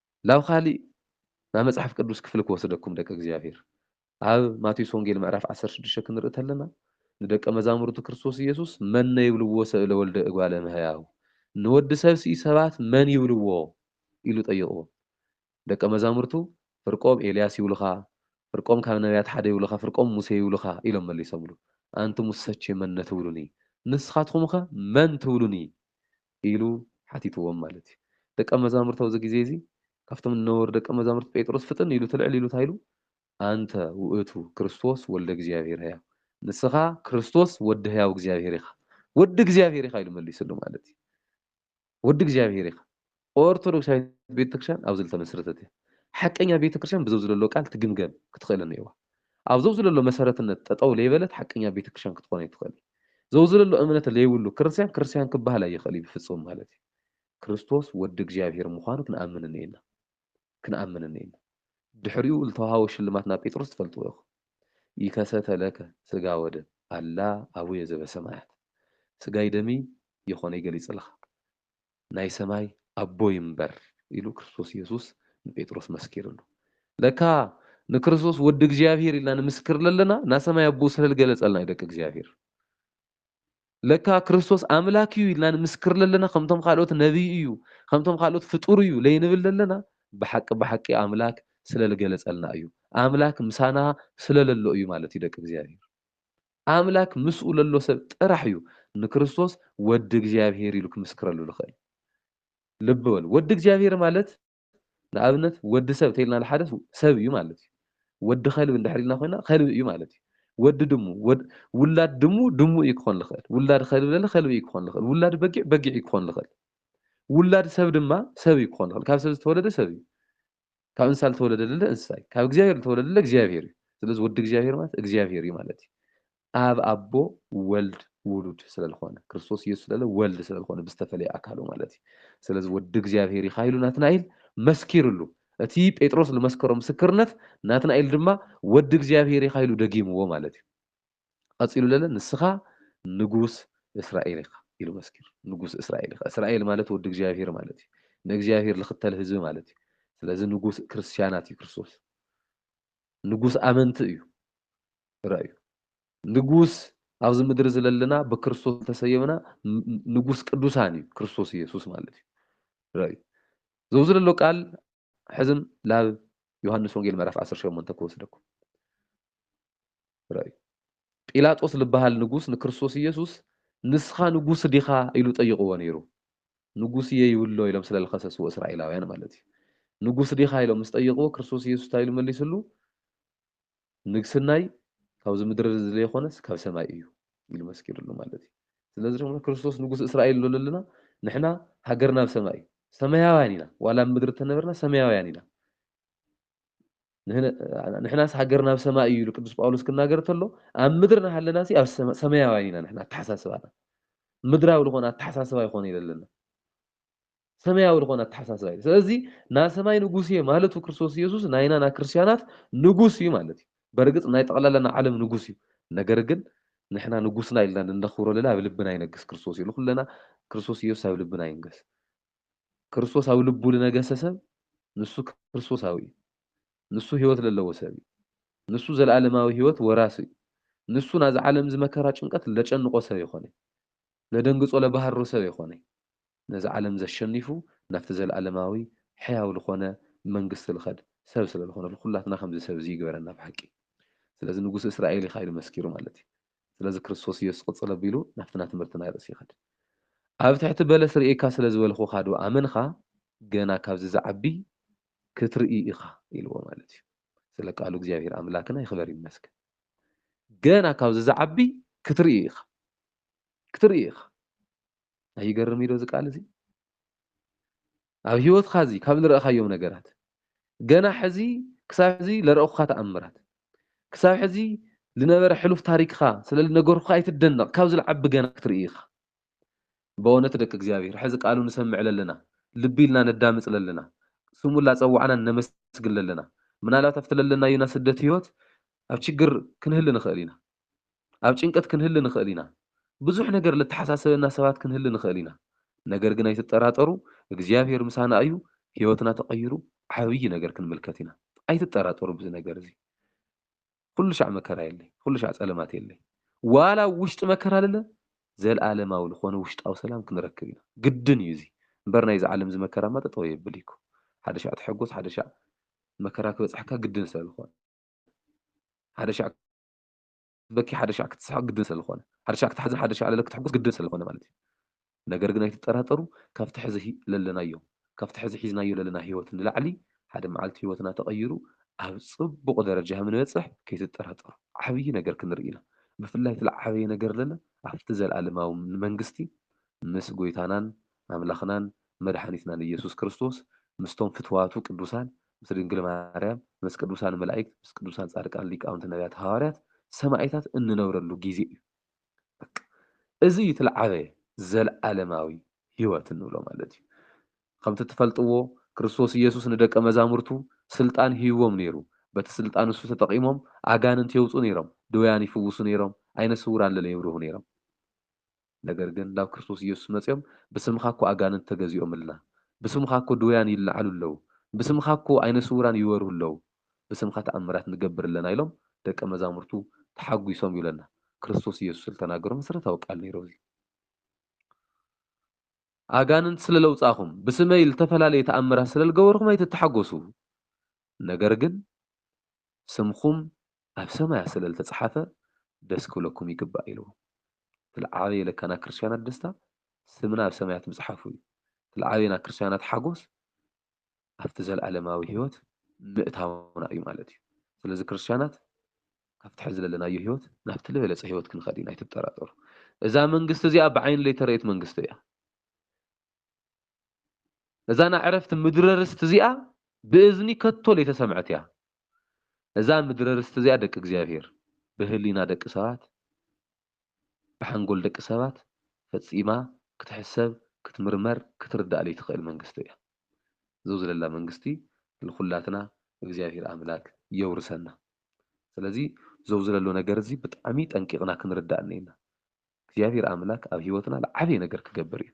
ላብ ካሊእ ናይ መጽሓፍ ቅዱስ ክፍሊ ክወስደኩም ደቂ እግዚኣብሔር ኣብ ማቴዎስ ወንጌል ምዕራፍ ዓሰርተ ሽዱሽተ ክንርኢ ተለና ንደቀ መዛሙርቱ ክርስቶስ ኢየሱስ መነ ይብልዎ ሰእ ለወልደ እጓለ እምሕያው ንወዲ ሰብ ስኢ ሰባት መን ይብልዎ ኢሉ ጠይቅዎ ደቀ መዛሙርቱ ፍርቆም ኤልያስ ይብሉካ ፍርቆም ካብ ነብያት ሓደ ይብሉካ ፍርቆም ሙሴ ይብሉካ ኢሎም መሊሶምሉ ኣንቱሙሰቼ መነ ትብሉኒ ንስካትኩምከ መን ትብሉኒ ኢሉ ሓቲትዎም ማለት እዩ። ደቀ መዛሙርት ኣብዚ ግዜ እዚ ካብቶም ንነበሩ ደቀ መዛሙርት ጴጥሮስ ፍጥን ኢሉ ትልዕል ኢሉ እንታይ ኢሉ ኣንተ ውእቱ ክርስቶስ ወልደ እግዚኣብሔር ሕያው ንስኻ ክርስቶስ ወዲ ሕያው እግዚኣብሔር ኢኻ ወዲ እግዚኣብሔር ኢኻ ኢሉ መሊስሉ ማለት እዩ። ወዲ እግዚኣብሔር ኢኻ ኦርቶዶክሳዊት ቤተክርስትያን ኣብዚ ዝተመስረተት እያ። ሓቀኛ ቤተክርስትያን ብዘብዚ ዘሎ ቃል ትግምገም ክትኽእል እኒኦዋ። ኣብ ዘውዝለሎ መሰረትነት ጠጠው ለይበለት ሓቀኛ ቤተክርስትያን ክትኾን ኣይትኽእልን። ዘውዝለሎ እምነት ለይብሉ ክርስትያን ክርስትያን ክበሃል ኣይኽእልይ ብፍፁም ማለት እዩ። ክርስቶስ ወዲ እግዚኣብሔር ምዃኑ ክንኣምን እኔና። ክንኣምን እኔና። ድሕሪኡ ልተውሃቦ ሽልማት ናብ ጴጥሮስ ትፈልጥዎ ኢኹም። ይከሰተ ለከ ሥጋ ወደም ኣላ ኣቡየ ዘበሰማያት ስጋይ ደምይ የኾነይ ገሊፅልኻ። ናይ ሰማይ ኣቦይ እምበር ኢሉ ክርስቶስ የሱስ ንጴጥሮስ መስኪርሉ። ለካ ንክርስቶስ ወዲ እግዚኣብሄር ኢልና ንምስክር ለለና ናሰማይ ኣቦኡ ስለልገለጸልና እዩ ደቂ እግዚኣብሄር። ለካ ክርስቶስ ኣምላክ እዩ ኢልና ንምስክር ለለና ከምቶም ካልኦት ነቢይ እዩ ከምቶም ካልኦት ፍጡር እዩ ለይንብል ለለና ብሓቂ ብሓቂ ኣምላክ ስለልገለጸልና እዩ ኣምላክ ምሳና ስለለሎ እዩ ማለት እዩ ደቂ እግዚኣብሄር። ኣምላክ ምስኡ ለሎ ሰብ ጥራሕ እዩ ንክርስቶስ ወዲ እግዚኣብሄር ኢሉ ክምስክረሉ ልክእል። ልቢ በሉ ወዲ እግዚኣብሄር ማለት ንኣብነት ወዲ ሰብ ተይልና ልሓደ ሰብ እዩ ማለት እዩ። ወዲ ከልቢ እንድሕር ኢልና ኮይና ከልቢ እዩ ማለት እዩ። ወዲ ድሙ ወድ ውላድ ድሙ ድሙ እዩ ክኾን ልክእል። ውላድ ከልቢ ለለ ከልቢ እዩ ክኾን ልክእል። ውላድ በጊዕ በጊዕ እዩ ክኾን ልክእል። ውላድ ሰብ ድማ ሰብ እዩ ክኾን ልክእል። ካብ ሰብ ዝተወለደ ሰብ እዩ። ካብ እንስሳ ልተወለደ ለለ እንስሳ እዩ ካብ እግዚኣብሔር ልተወለደ ለለ እግዚኣብሔር እዩ ስለዚ ወዲ እግዚኣብሔር ማለት እግዚኣብሔር እዩ ማለት እዩ ኣብ ኣቦ ወልድ ውሉድ ስለልኾነ ክርስቶስ ኢየሱስ ለለ ወልድ ስለልኾነ ብዝተፈለየ ኣካሉ ማለት እዩ ስለዚ ወዲ እግዚኣብሔር ኢኻ ኢሉ ናትናኤል መስኪርሉ እቲ ጴጥሮስ ልመስከሮ ምስክርነት ናትናኤል ድማ ወዲ እግዚኣብሔር ኢኻ ኢሉ ደጊምዎ ማለት እዩ ቐጺሉ ለለ ንስኻ ንጉስ እስራኤል ኢኻ ኢሉ መስኪሩ ንጉስ እስራኤል ኢኻ እስራኤል ማለት ወዲ እግዚኣብሄር ማለት እዩ ንእግዚኣብሄር ልኽተል ህዝቢ ማለት እዩ ስለዚ ንጉስ ክርስትያናት እዩ ክርስቶስ ንጉስ ኣመንቲ እዩ ረእዩ ንጉስ ኣብዚ ምድሪ ዝለለና ብክርስቶስ ተሰየምና ንጉስ ቅዱሳን እዩ ክርስቶስ ኢየሱስ ማለት እዩ ረእዩ ዘውዚ ዘሎ ቃል ሕዝም ላብ ዮሐንስ ወንጌል ምዕራፍ 18 ክወስደኩም ርኣዩ። ጲላጦስ ልበሃል ንጉስ ንክርስቶስ ኢየሱስ ንስኻ ንጉስ ዲኻ ኢሉ ጠይቕዎ ነይሩ። ንጉስ ኢየ ይብሎ ኢሎም ስለ ልኸሰስዎ እስራኤላውያን ማለት እዩ። ንጉስ ዲኻ ኢሎም ምስ ጠይቕዎ ክርስቶስ ኢየሱስ እንታይ ኢሉ መሊስሉ ንግስናይ ካብዚ ምድሪ እዚ ለይኾነስ ካብ ሰማይ እዩ ኢሉ መስኪርሉ ማለት እዩ። ስለዚ ድማ ክርስቶስ ንጉስ እስራኤል ኢሉ ለለና ንሕና ሃገርና ኣብ ሰማይ እዩ። ሰማያውያን ኢና ዋላ ኣብ ምድሪ ተነበርና ሰማያውያን ኢና። ንሕናስ ሃገርና ኣብ ሰማይ እዩ ኢሉ ቅዱስ ጳውሎስ ክናገር ተሎ ኣብ ምድሪ ናሃለና ሲ ኣብ ሰማያውያን ኢና ንሕና ኣተሓሳስባና ምድራዊ ዝኾነ ኣተሓሳስባ ይኾነ ይለለና ሰማያዊ ዝኾነ ኣተሓሳስባ እዩ ስለዚ ናይ ሰማይ ንጉስ እየ ማለቱ ክርስቶስ ኢየሱስ ናይና ናይ ክርስቲያናት ንጉስ እዩ ማለት እዩ በርግፅ ናይ ጠቕላላ ናይ ዓለም ንጉስ እዩ ነገር ግን ንሕና ንጉስና ኢልና ንነኽብሮ ለለ ኣብ ልብና ይነግስ ክርስቶስ እዩ ንኩለና ክርስቶስ ኢየሱስ ኣብ ልብና ይንገስ ክርስቶስ ኣብ ልቡ ልነገሰ ሰብ ንሱ ክርስቶሳዊ እዩ። ንሱ ሕይወት ለለዎ ሰብ እዩ። ንሱ ዘለዓለማዊ ሕይወት ወራሲ እዩ። ንሱ ናዚ ዓለም እዚ መከራ ጭንቀት ለጨንቆ ሰብ የኮነይ። ለደንግጾ ለባህርሮ ሰብ የኮነይ። ነዚ ዓለም ዘሸኒፉ ናብቲ ዘለዓለማዊ ሕያው ልኮነ መንግስቲ ልኸድ ሰብ ስለልኾነ ልኹላትና ከምዚ ሰብ እዚ ይግበረና ብሓቂ። ስለዚ ንጉስ እስራኤል ኢኻ ኢሉ መስኪሩ ማለት እዩ። ስለዚ ክርስቶስ ኢየሱስ ቅጽል ኣቢሉ ናብቲ ናትምህርቲ ናይ ርእሲ ይኸድ። ኣብ ትሕቲ በለስ ርእየካ ስለ ዝበልኹኻ ዶ ኣመንኻ ገና ካብዚ ዝዓቢ ክትርኢ ኢኻ ኢልዎ ማለት እዩ ስለ ቃሉ እግዚኣብሔር ኣምላክና ይኽበር ይመስገን ገና ካብዚ ዝዓቢ ክትርኢ ኢኻ ክትርኢ ኢኻ ኣይገርም እዩ ዶ እዚ ቃል እዚ ኣብ ሂወትካ እዚ ካብ ልረእካዮም ነገራት ገና ሕዚ ክሳብ ሕዚ ለረእኩካ ተኣምራት ክሳብ ሕዚ ልነበረ ሕሉፍ ታሪክካ ስለ ልነገርኩካ ኣይትደነቅ ካብዚ ልዓቢ ገና ክትርኢ ኢካ በእውነት ደቂ እግዚኣብሔር ሕዚ ቃሉ ንሰምዕ ለለና ልቢ ኢልና ነዳምፅ ለለና ስሙ ላፀዋዕናን ነመስግን ለለና ምናልባት ኣብቲ ለለናዩ ናስደት ሂወት ኣብ ችግር ክንህሊ ንክእል ኢና ኣብ ጭንቀት ክንህሊ ንኽእል ኢና። ብዙሕ ነገር ለተሓሳሰበና ሰባት ክንህሊ ንኽእል ኢና። ነገር ግን ኣይትጠራጠሩ እግዚኣብሄር ምሳና ኣዩ ህይወትና ተቐይሩ ዓብይ ነገር ክንምልከት ኢና። ኣይትጠራጠሩ ብዚ ነገር እዚ። ኹሉ ሻዕ መከራ የለይ ኹሉ ሻዕ ጸለማት የለይ። ዋላ ኣብ ውሽጢ መከራ ልለ ዘልኣለማዊ ልኾነ ውሽጣዊ ሰላም ክንረክብ ኢና። ግድን እዩ እዚ። እምበር ናይ እዚ ዓለም እዚ መከራ እማ ጠጠው የብል እዩ እኮ። ሓደ ሻዕ ተሐጎስ ሓደ ሻዕ መከራ ክበጽሐካ ግድን ስለ ልኾነ። ሓደ ሻዕ ክትበኪ ሓደ ሻዕ ክትስሕቅ ግድን ሰለዝኮነ ሓደ ሻዕ ክትሓዝን ሓደ ሻዕ ለለ ክትሕጉስ ግድን ሰለዝኮነ ማለት እዩ ነገር ግን ኣይትጠራጠሩ ካብቲ ሕዚ ሂይ ለለናዮ ካብቲ ሕዚ ሒዝናዮ ለለና ሂወት ንላዕሊ ሓደ መዓልቲ ሂወትና ተቀይሩ ኣብ ጽቡቅ ደረጃ ከምንበጽሕ ከይትጠራጠሩ ዓብይ ነገር ክንርኢ ኢና ብፍላይ እቲ ልዓበየ ነገር ለለ ኣብቲ ዘልኣለማዊ መንግስቲ ምስ ጎይታናን ኣምላክናን መድሓኒትናን እየሱስ ክርስቶስ ምስቶም ፍትዋቱ ቅዱሳን ምስ ድንግል ማርያም፣ ምስ ቅዱሳን መላኢክት፣ ምስ ቅዱሳን ጻድቃን፣ ሊቃውንቲ፣ ነብያት፣ ሃዋርያት፣ ሰማኢታት እንነብረሉ ጊዜ እዩ። በቃ እዚ እዩ እቲ ልዓበየ ዘልዓለማዊ ሕይወት እንብሎ ማለት እዩ። ከምቲ እትፈልጥዎ ክርስቶስ ኢየሱስ ንደቀ መዛሙርቱ ሥልጣን ሂብዎም ነይሩ። በቲ ሥልጣን ንሱ ተጠቒሞም ኣጋንንት የውጹ ነይሮም፣ ድውያን ይፍውሱ ነይሮም፣ ዓይነ ስውራን ለለ የብርሁ ነይሮም። ነገር ግን ናብ ክርስቶስ ኢየሱስ መጺኦም ብስምኻ እኮ ኣጋንንት ተገዚኦምልና፣ ብስምኻ እኮ ድውያን ይለዓሉ ኣለዉ፣ ብስምኻ እኮ ዓይነ ስውራን ይበርሁ ኣለዉ፣ ብስምኻ ተኣምራት ንገብር ኣለና ኢሎም ደቀ መዛሙርቱ ተሓጒሶም እዩ ለና ክርስቶስ ኢየሱስ ልተናገሮ መሰረታዊ ቃል ነይሩ እዚ። ኣጋንንት ስለ ለውጻኹም፣ ብስመይ ልተፈላለየ ተኣምራት ስለ ልገበርኹም ኣይትተሓጎሱ፣ ነገር ግን ስምኹም ኣብ ሰማያት ስለ ልተጽሓፈ ደስ ክብለኩም ይግባእ ኢልዎም። እቲ ልዓበየ ለካ ናይ ክርስትያናት ደስታ ስምና ኣብ ሰማያት ምጽሓፉ እዩ። እቲ ልዓበየ ናይ ክርስትያናት ሓጎስ ኣብቲ ዘለዓለማዊ ሕይወት ምእታውና እዩ ማለት እዩ። ስለዚ ክርስትያናት ካብቲ ሕዚ ለለናዮ ሕይወት ናብቲ ልበለጸ ሕይወት ክንኸድ ኢና ኣይትጠራጠሩ። እዛ መንግስቲ እዚኣ ብዓይኒ ለይተረእየት መንግስቲ እያ። እዛ ናዕረፍቲ ምድረርስቲ እዚኣ ብእዝኒ ከቶ ለይተሰምዐት እያ። እዛ ምድረርስቲ እዚኣ ደቂ እግዚኣብሔር ብህሊና ደቂ ሰባት ብሓንጎል ደቂ ሰባት ፈጺማ ክትሕሰብ ክትምርመር ክትርዳእ ለይትኽእል መንግስቲ እያ። ዘውዝለላ መንግስቲ ልኹላትና እግዚኣብሔር ኣምላክ የውርሰና። ስለዚ ዘውዝለሎ ነገር እዚ ብጣዕሚ ጠንቂቅና ክንርዳእ እኔና። እግዚኣብሔር ኣምላክ ኣብ ህይወትና ልዓበየ ነገር ክገብር እዩ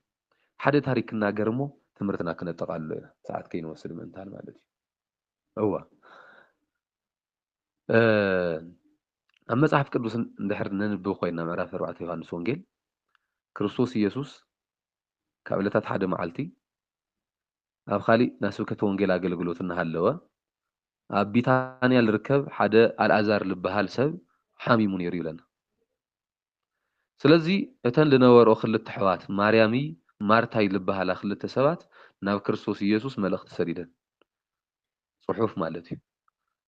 ሓደ ታሪክ ክናገር እሞ ትምህርትና ክነጠቃልሎ ኢና ሰዓት ከይንወስድ ምእንታን ማለት እዩ እወ ኣብ መጽሓፍ ቅዱስ እንድሕር ነንብብ ኮይና ምዕራፍ ኣርባዕተ ዮሃንስ ወንጌል ክርስቶስ ኢየሱስ ካብ ዕለታት ሓደ መዓልቲ ኣብ ካሊእ ናይ ስብከተ ወንጌል ኣገልግሎት እናሃለወ ኣብ ቢታንያ ዝርከብ ሓደ ኣልኣዛር ዝበሃል ሰብ ሓሚሙ ነይሩ ይብለና። ስለዚ እተን ልነበርኦ ክልተ ኣሕዋት ማርያምይ ማርታይ ልበሃላ ክልተ ሰባት ናብ ክርስቶስ ኢየሱስ መልእኽቲ ሰዲደን ጽሑፍ ማለት እዩ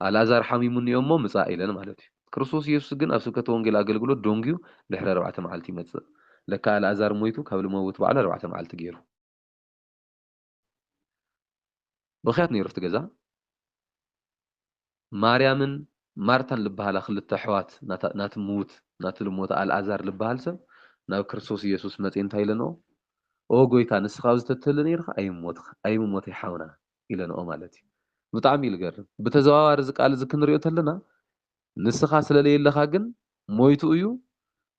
ኣልኣዛር ሓሚሙ እኒኦ እሞ ምጻእ ኢለን ማለት እዩ ክርስቶስ ኢየሱስ ግን ኣብ ስብከተ ወንጌል ኣገልግሎት ዶንግዩ ድሕሪ ኣርባዕተ መዓልቲ ይመጽእ ለካ ኣልኣዛር ሞይቱ ካብ ልመውት በዓል ኣርባዕተ መዓልቲ ገይሩ ብኽያት ነይሩ ኣብቲ ገዛ። ማርያምን ማርታን ልበሃላ ክልተ ኣሕዋት ናቲ ምዉት ናቲ ልሞተ ኣልኣዛር ልበሃል ሰብ ናብ ክርስቶስ ኢየሱስ መጺኤን እንታይ ኢለንኦ ኦ ጎይታ ንስኻ ኣብዚ ተትህሉ ነይርካ ኣይምሞትካ ኣይምሞተይ ሓውና ኢለንኦ ማለት እዩ ብጣዕሚ እዩ ልገርም ብተዘዋዋሪ እዚ ቃል እዚ ክንሪኦ ተለና ንስኻ ስለ ለየለኻ ግን ሞይቱ እዩ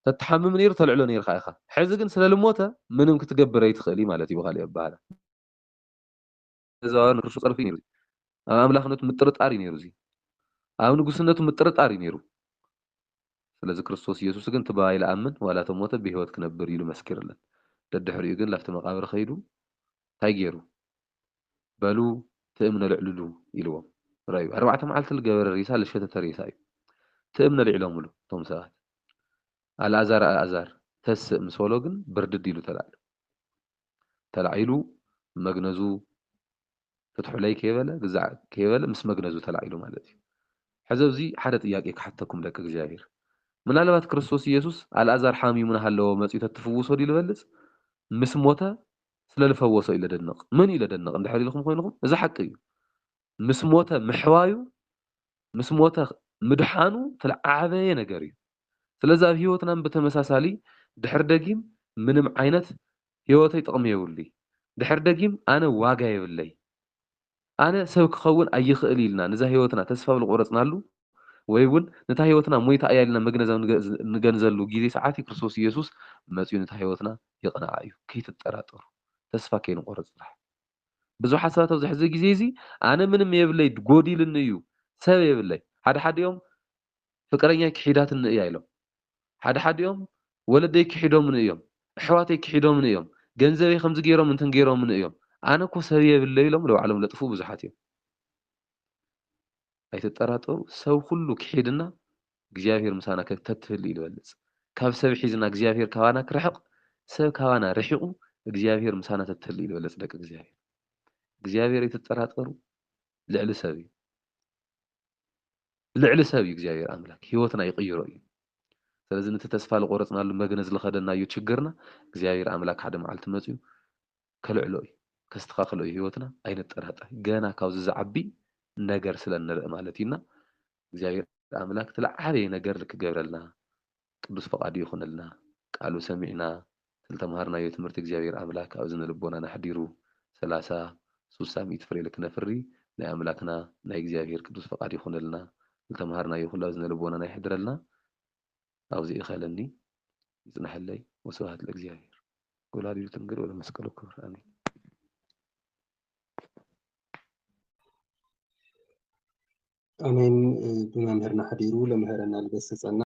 ተትሓምም ነይሩ ተልዕሎ ነይርካ ኢኻ ሕዚ ግን ስለ ልሞተ ምንም ክትገብር ኣይትኽእል እዩ ማለት እዩ ብኻሊእ ኣበሃህላ እዛዋን ርሱ ጸርፊ እዩ ነይሩ ኣብ ኣምላኽነቱ ምጥርጣር እዩ ነይሩ እዚ ኣብ ንጉስነቱ ምጥርጣር እዩ ነይሩ ስለዚ ክርስቶስ ኢየሱስ ግን ትባይ ለኣምን ዋላ ተሞተ ብህይወት ክነብር ኢሉ መስኪርለን ደድሕሪኡ ግን ላፍቲ መቃብር ከይዱ እንታይ ገይሩ በሉ ትእም ነልዕልሉ ኢልዎም ርኣዩ ኣርባዕተ መዓልቲ ልገበረ ሬሳ ልሸተተ ሬሳ እዩ ትእም ነልዒሎምሉ እቶም ሰባት ኣልኣዛር ኣልኣዛር ተስእ ምስ በሎ ግን ብርድድ ኢሉ ተላዕሉ ተላዒሉ መግነዙ ፍትሑለይ ከይበለ ግዛዕ ከይበለ ምስ መግነዙ ተላዒሉ ማለት እዩ ሕዚ ኣብዚ ሓደ ጥያቄ ክሓተኩም ደቂ እግዚኣብሔር ምናልባት ክርስቶስ ኢየሱስ ኣልኣዛር ሓሚሙ ናሃለወ መጺኡ ተትፍውሶ ድዩ ልበልጽ ምስ ሞተ ስለ ልፈወሶ ኢለ ደንቕ መን እዩ ለደንቕ እንድሕር ኢልኩም ኮይንኹም እዚ ሓቂ እዩ ምስ ሞተ ምሕዋዩ ምስ ሞተ ምድሓኑ ትልዓበየ ነገር እዩ ስለዚ ኣብ ህይወትናን ብተመሳሳሊ ድሕር ደጊም ምንም ዓይነት ህይወተይ ጥቕሚ የብሉይ ድሕር ደጊም ኣነ ዋጋ የብለይ ኣነ ሰብ ክኸውን ኣይኽእል ኢልና ንዛ ህይወትና ተስፋ ኣብ ልቆረጽናሉ ወይ እውን ነታ ህይወትና ሞይታ እያ ኢልና መግነዝ ኣብ ንገንዘሉ ጊዜ ሰዓትዩ ክርስቶስ ኢየሱስ መጺኡ ነታ ህይወትና የቕንዓ እዩ። ከይትጠራጠሩ። ተስፋ ከይንቆርጽ ጥራሕ። ብዙሓት ሰባት ኣብዚ ሕዚ ጊዜ እዚ ኣነ ምንም የብለይ ጎዲልኒ እዩ ሰብ የብለይ ሓደሓዲኦም ፍቅረኛይ ክሒዳትኒ እያ ኢሎም ሓደ ሓዲኦም ወለደይ ክሒዶምኒ እዮም እሕዋተይ ክሒዶምኒ እዮም ገንዘበይ ከምዚ ገይሮም እንትን ገይሮምኒ እዮም ኣነ እኮ ሰብ የብለይ ኢሎም ንባዕሎም ለጥፉ ብዙሓት እዮም ኣይትጠራጠሩ ሰብ ኩሉ ክሒድና እግዚኣብሔር ምሳና ተትህሉ እዩ ልበልፅ ካብ ሰብ ሒዝና እግዚኣብሔር ካባና ክርሕቅ ሰብ ካባና ርሒቁ እግዚኣብሔር ምሳና ተትህሉ እዩ ልበልፅ ደቂ እግዚኣብሔር እግዚኣብሔር ኣይትጠራጠሩ ልዕሊ ሰብ እዩ ልዕሊ ሰብ እዩ እግዚኣብሔር ኣምላክ ህይወትና ይቅይሮ እዩ ስለዚ ነቲ ተስፋ ዝቆረፅናሉ መግነዝ ዝኸደናዮ ችግርና እግዚኣብሔር ኣምላክ ሓደ መዓልቲ መፅኡ ከልዕሎ እዩ ከስተኻክሎ እዩ ህይወትና ኣይንጠራጠር ገና ካብዚ ዝዓቢ ነገር ስለ ንርኢ ማለት እዩና እግዚኣብሔር ኣምላክ እቲ ዝዓበየ ነገር ልክገብረልና ቅዱስ ፍቃዱ ይኹነልና ቃሉ ሰሚዕና ዝልተምሃርናዮ ትምህርቲ እግዚኣብሔር ኣምላክ ኣብ እዝነ ልቦናና ኣሕዲሩ ሰላሳ ሱሳ ሚእቲ ፍሬ ልክነፍሪ ናይ ኣምላክና ናይ እግዚኣብሔር ቅዱስ ፍቃድ ይኹነልና ልተምሃርናዮ ኩሉ ኣብ እዝነ ልቦናና የሕድረልና ኣብዚ እኸለኒ ይጽነሐለይ ወስብሃት ለእግዚኣብሔር ወላዲቱ ድንግል ወለመስቀሉ ክብር ኣሜን ኣሜን ብመምህርና ሓዲሩ ለምህረና ልገስጸና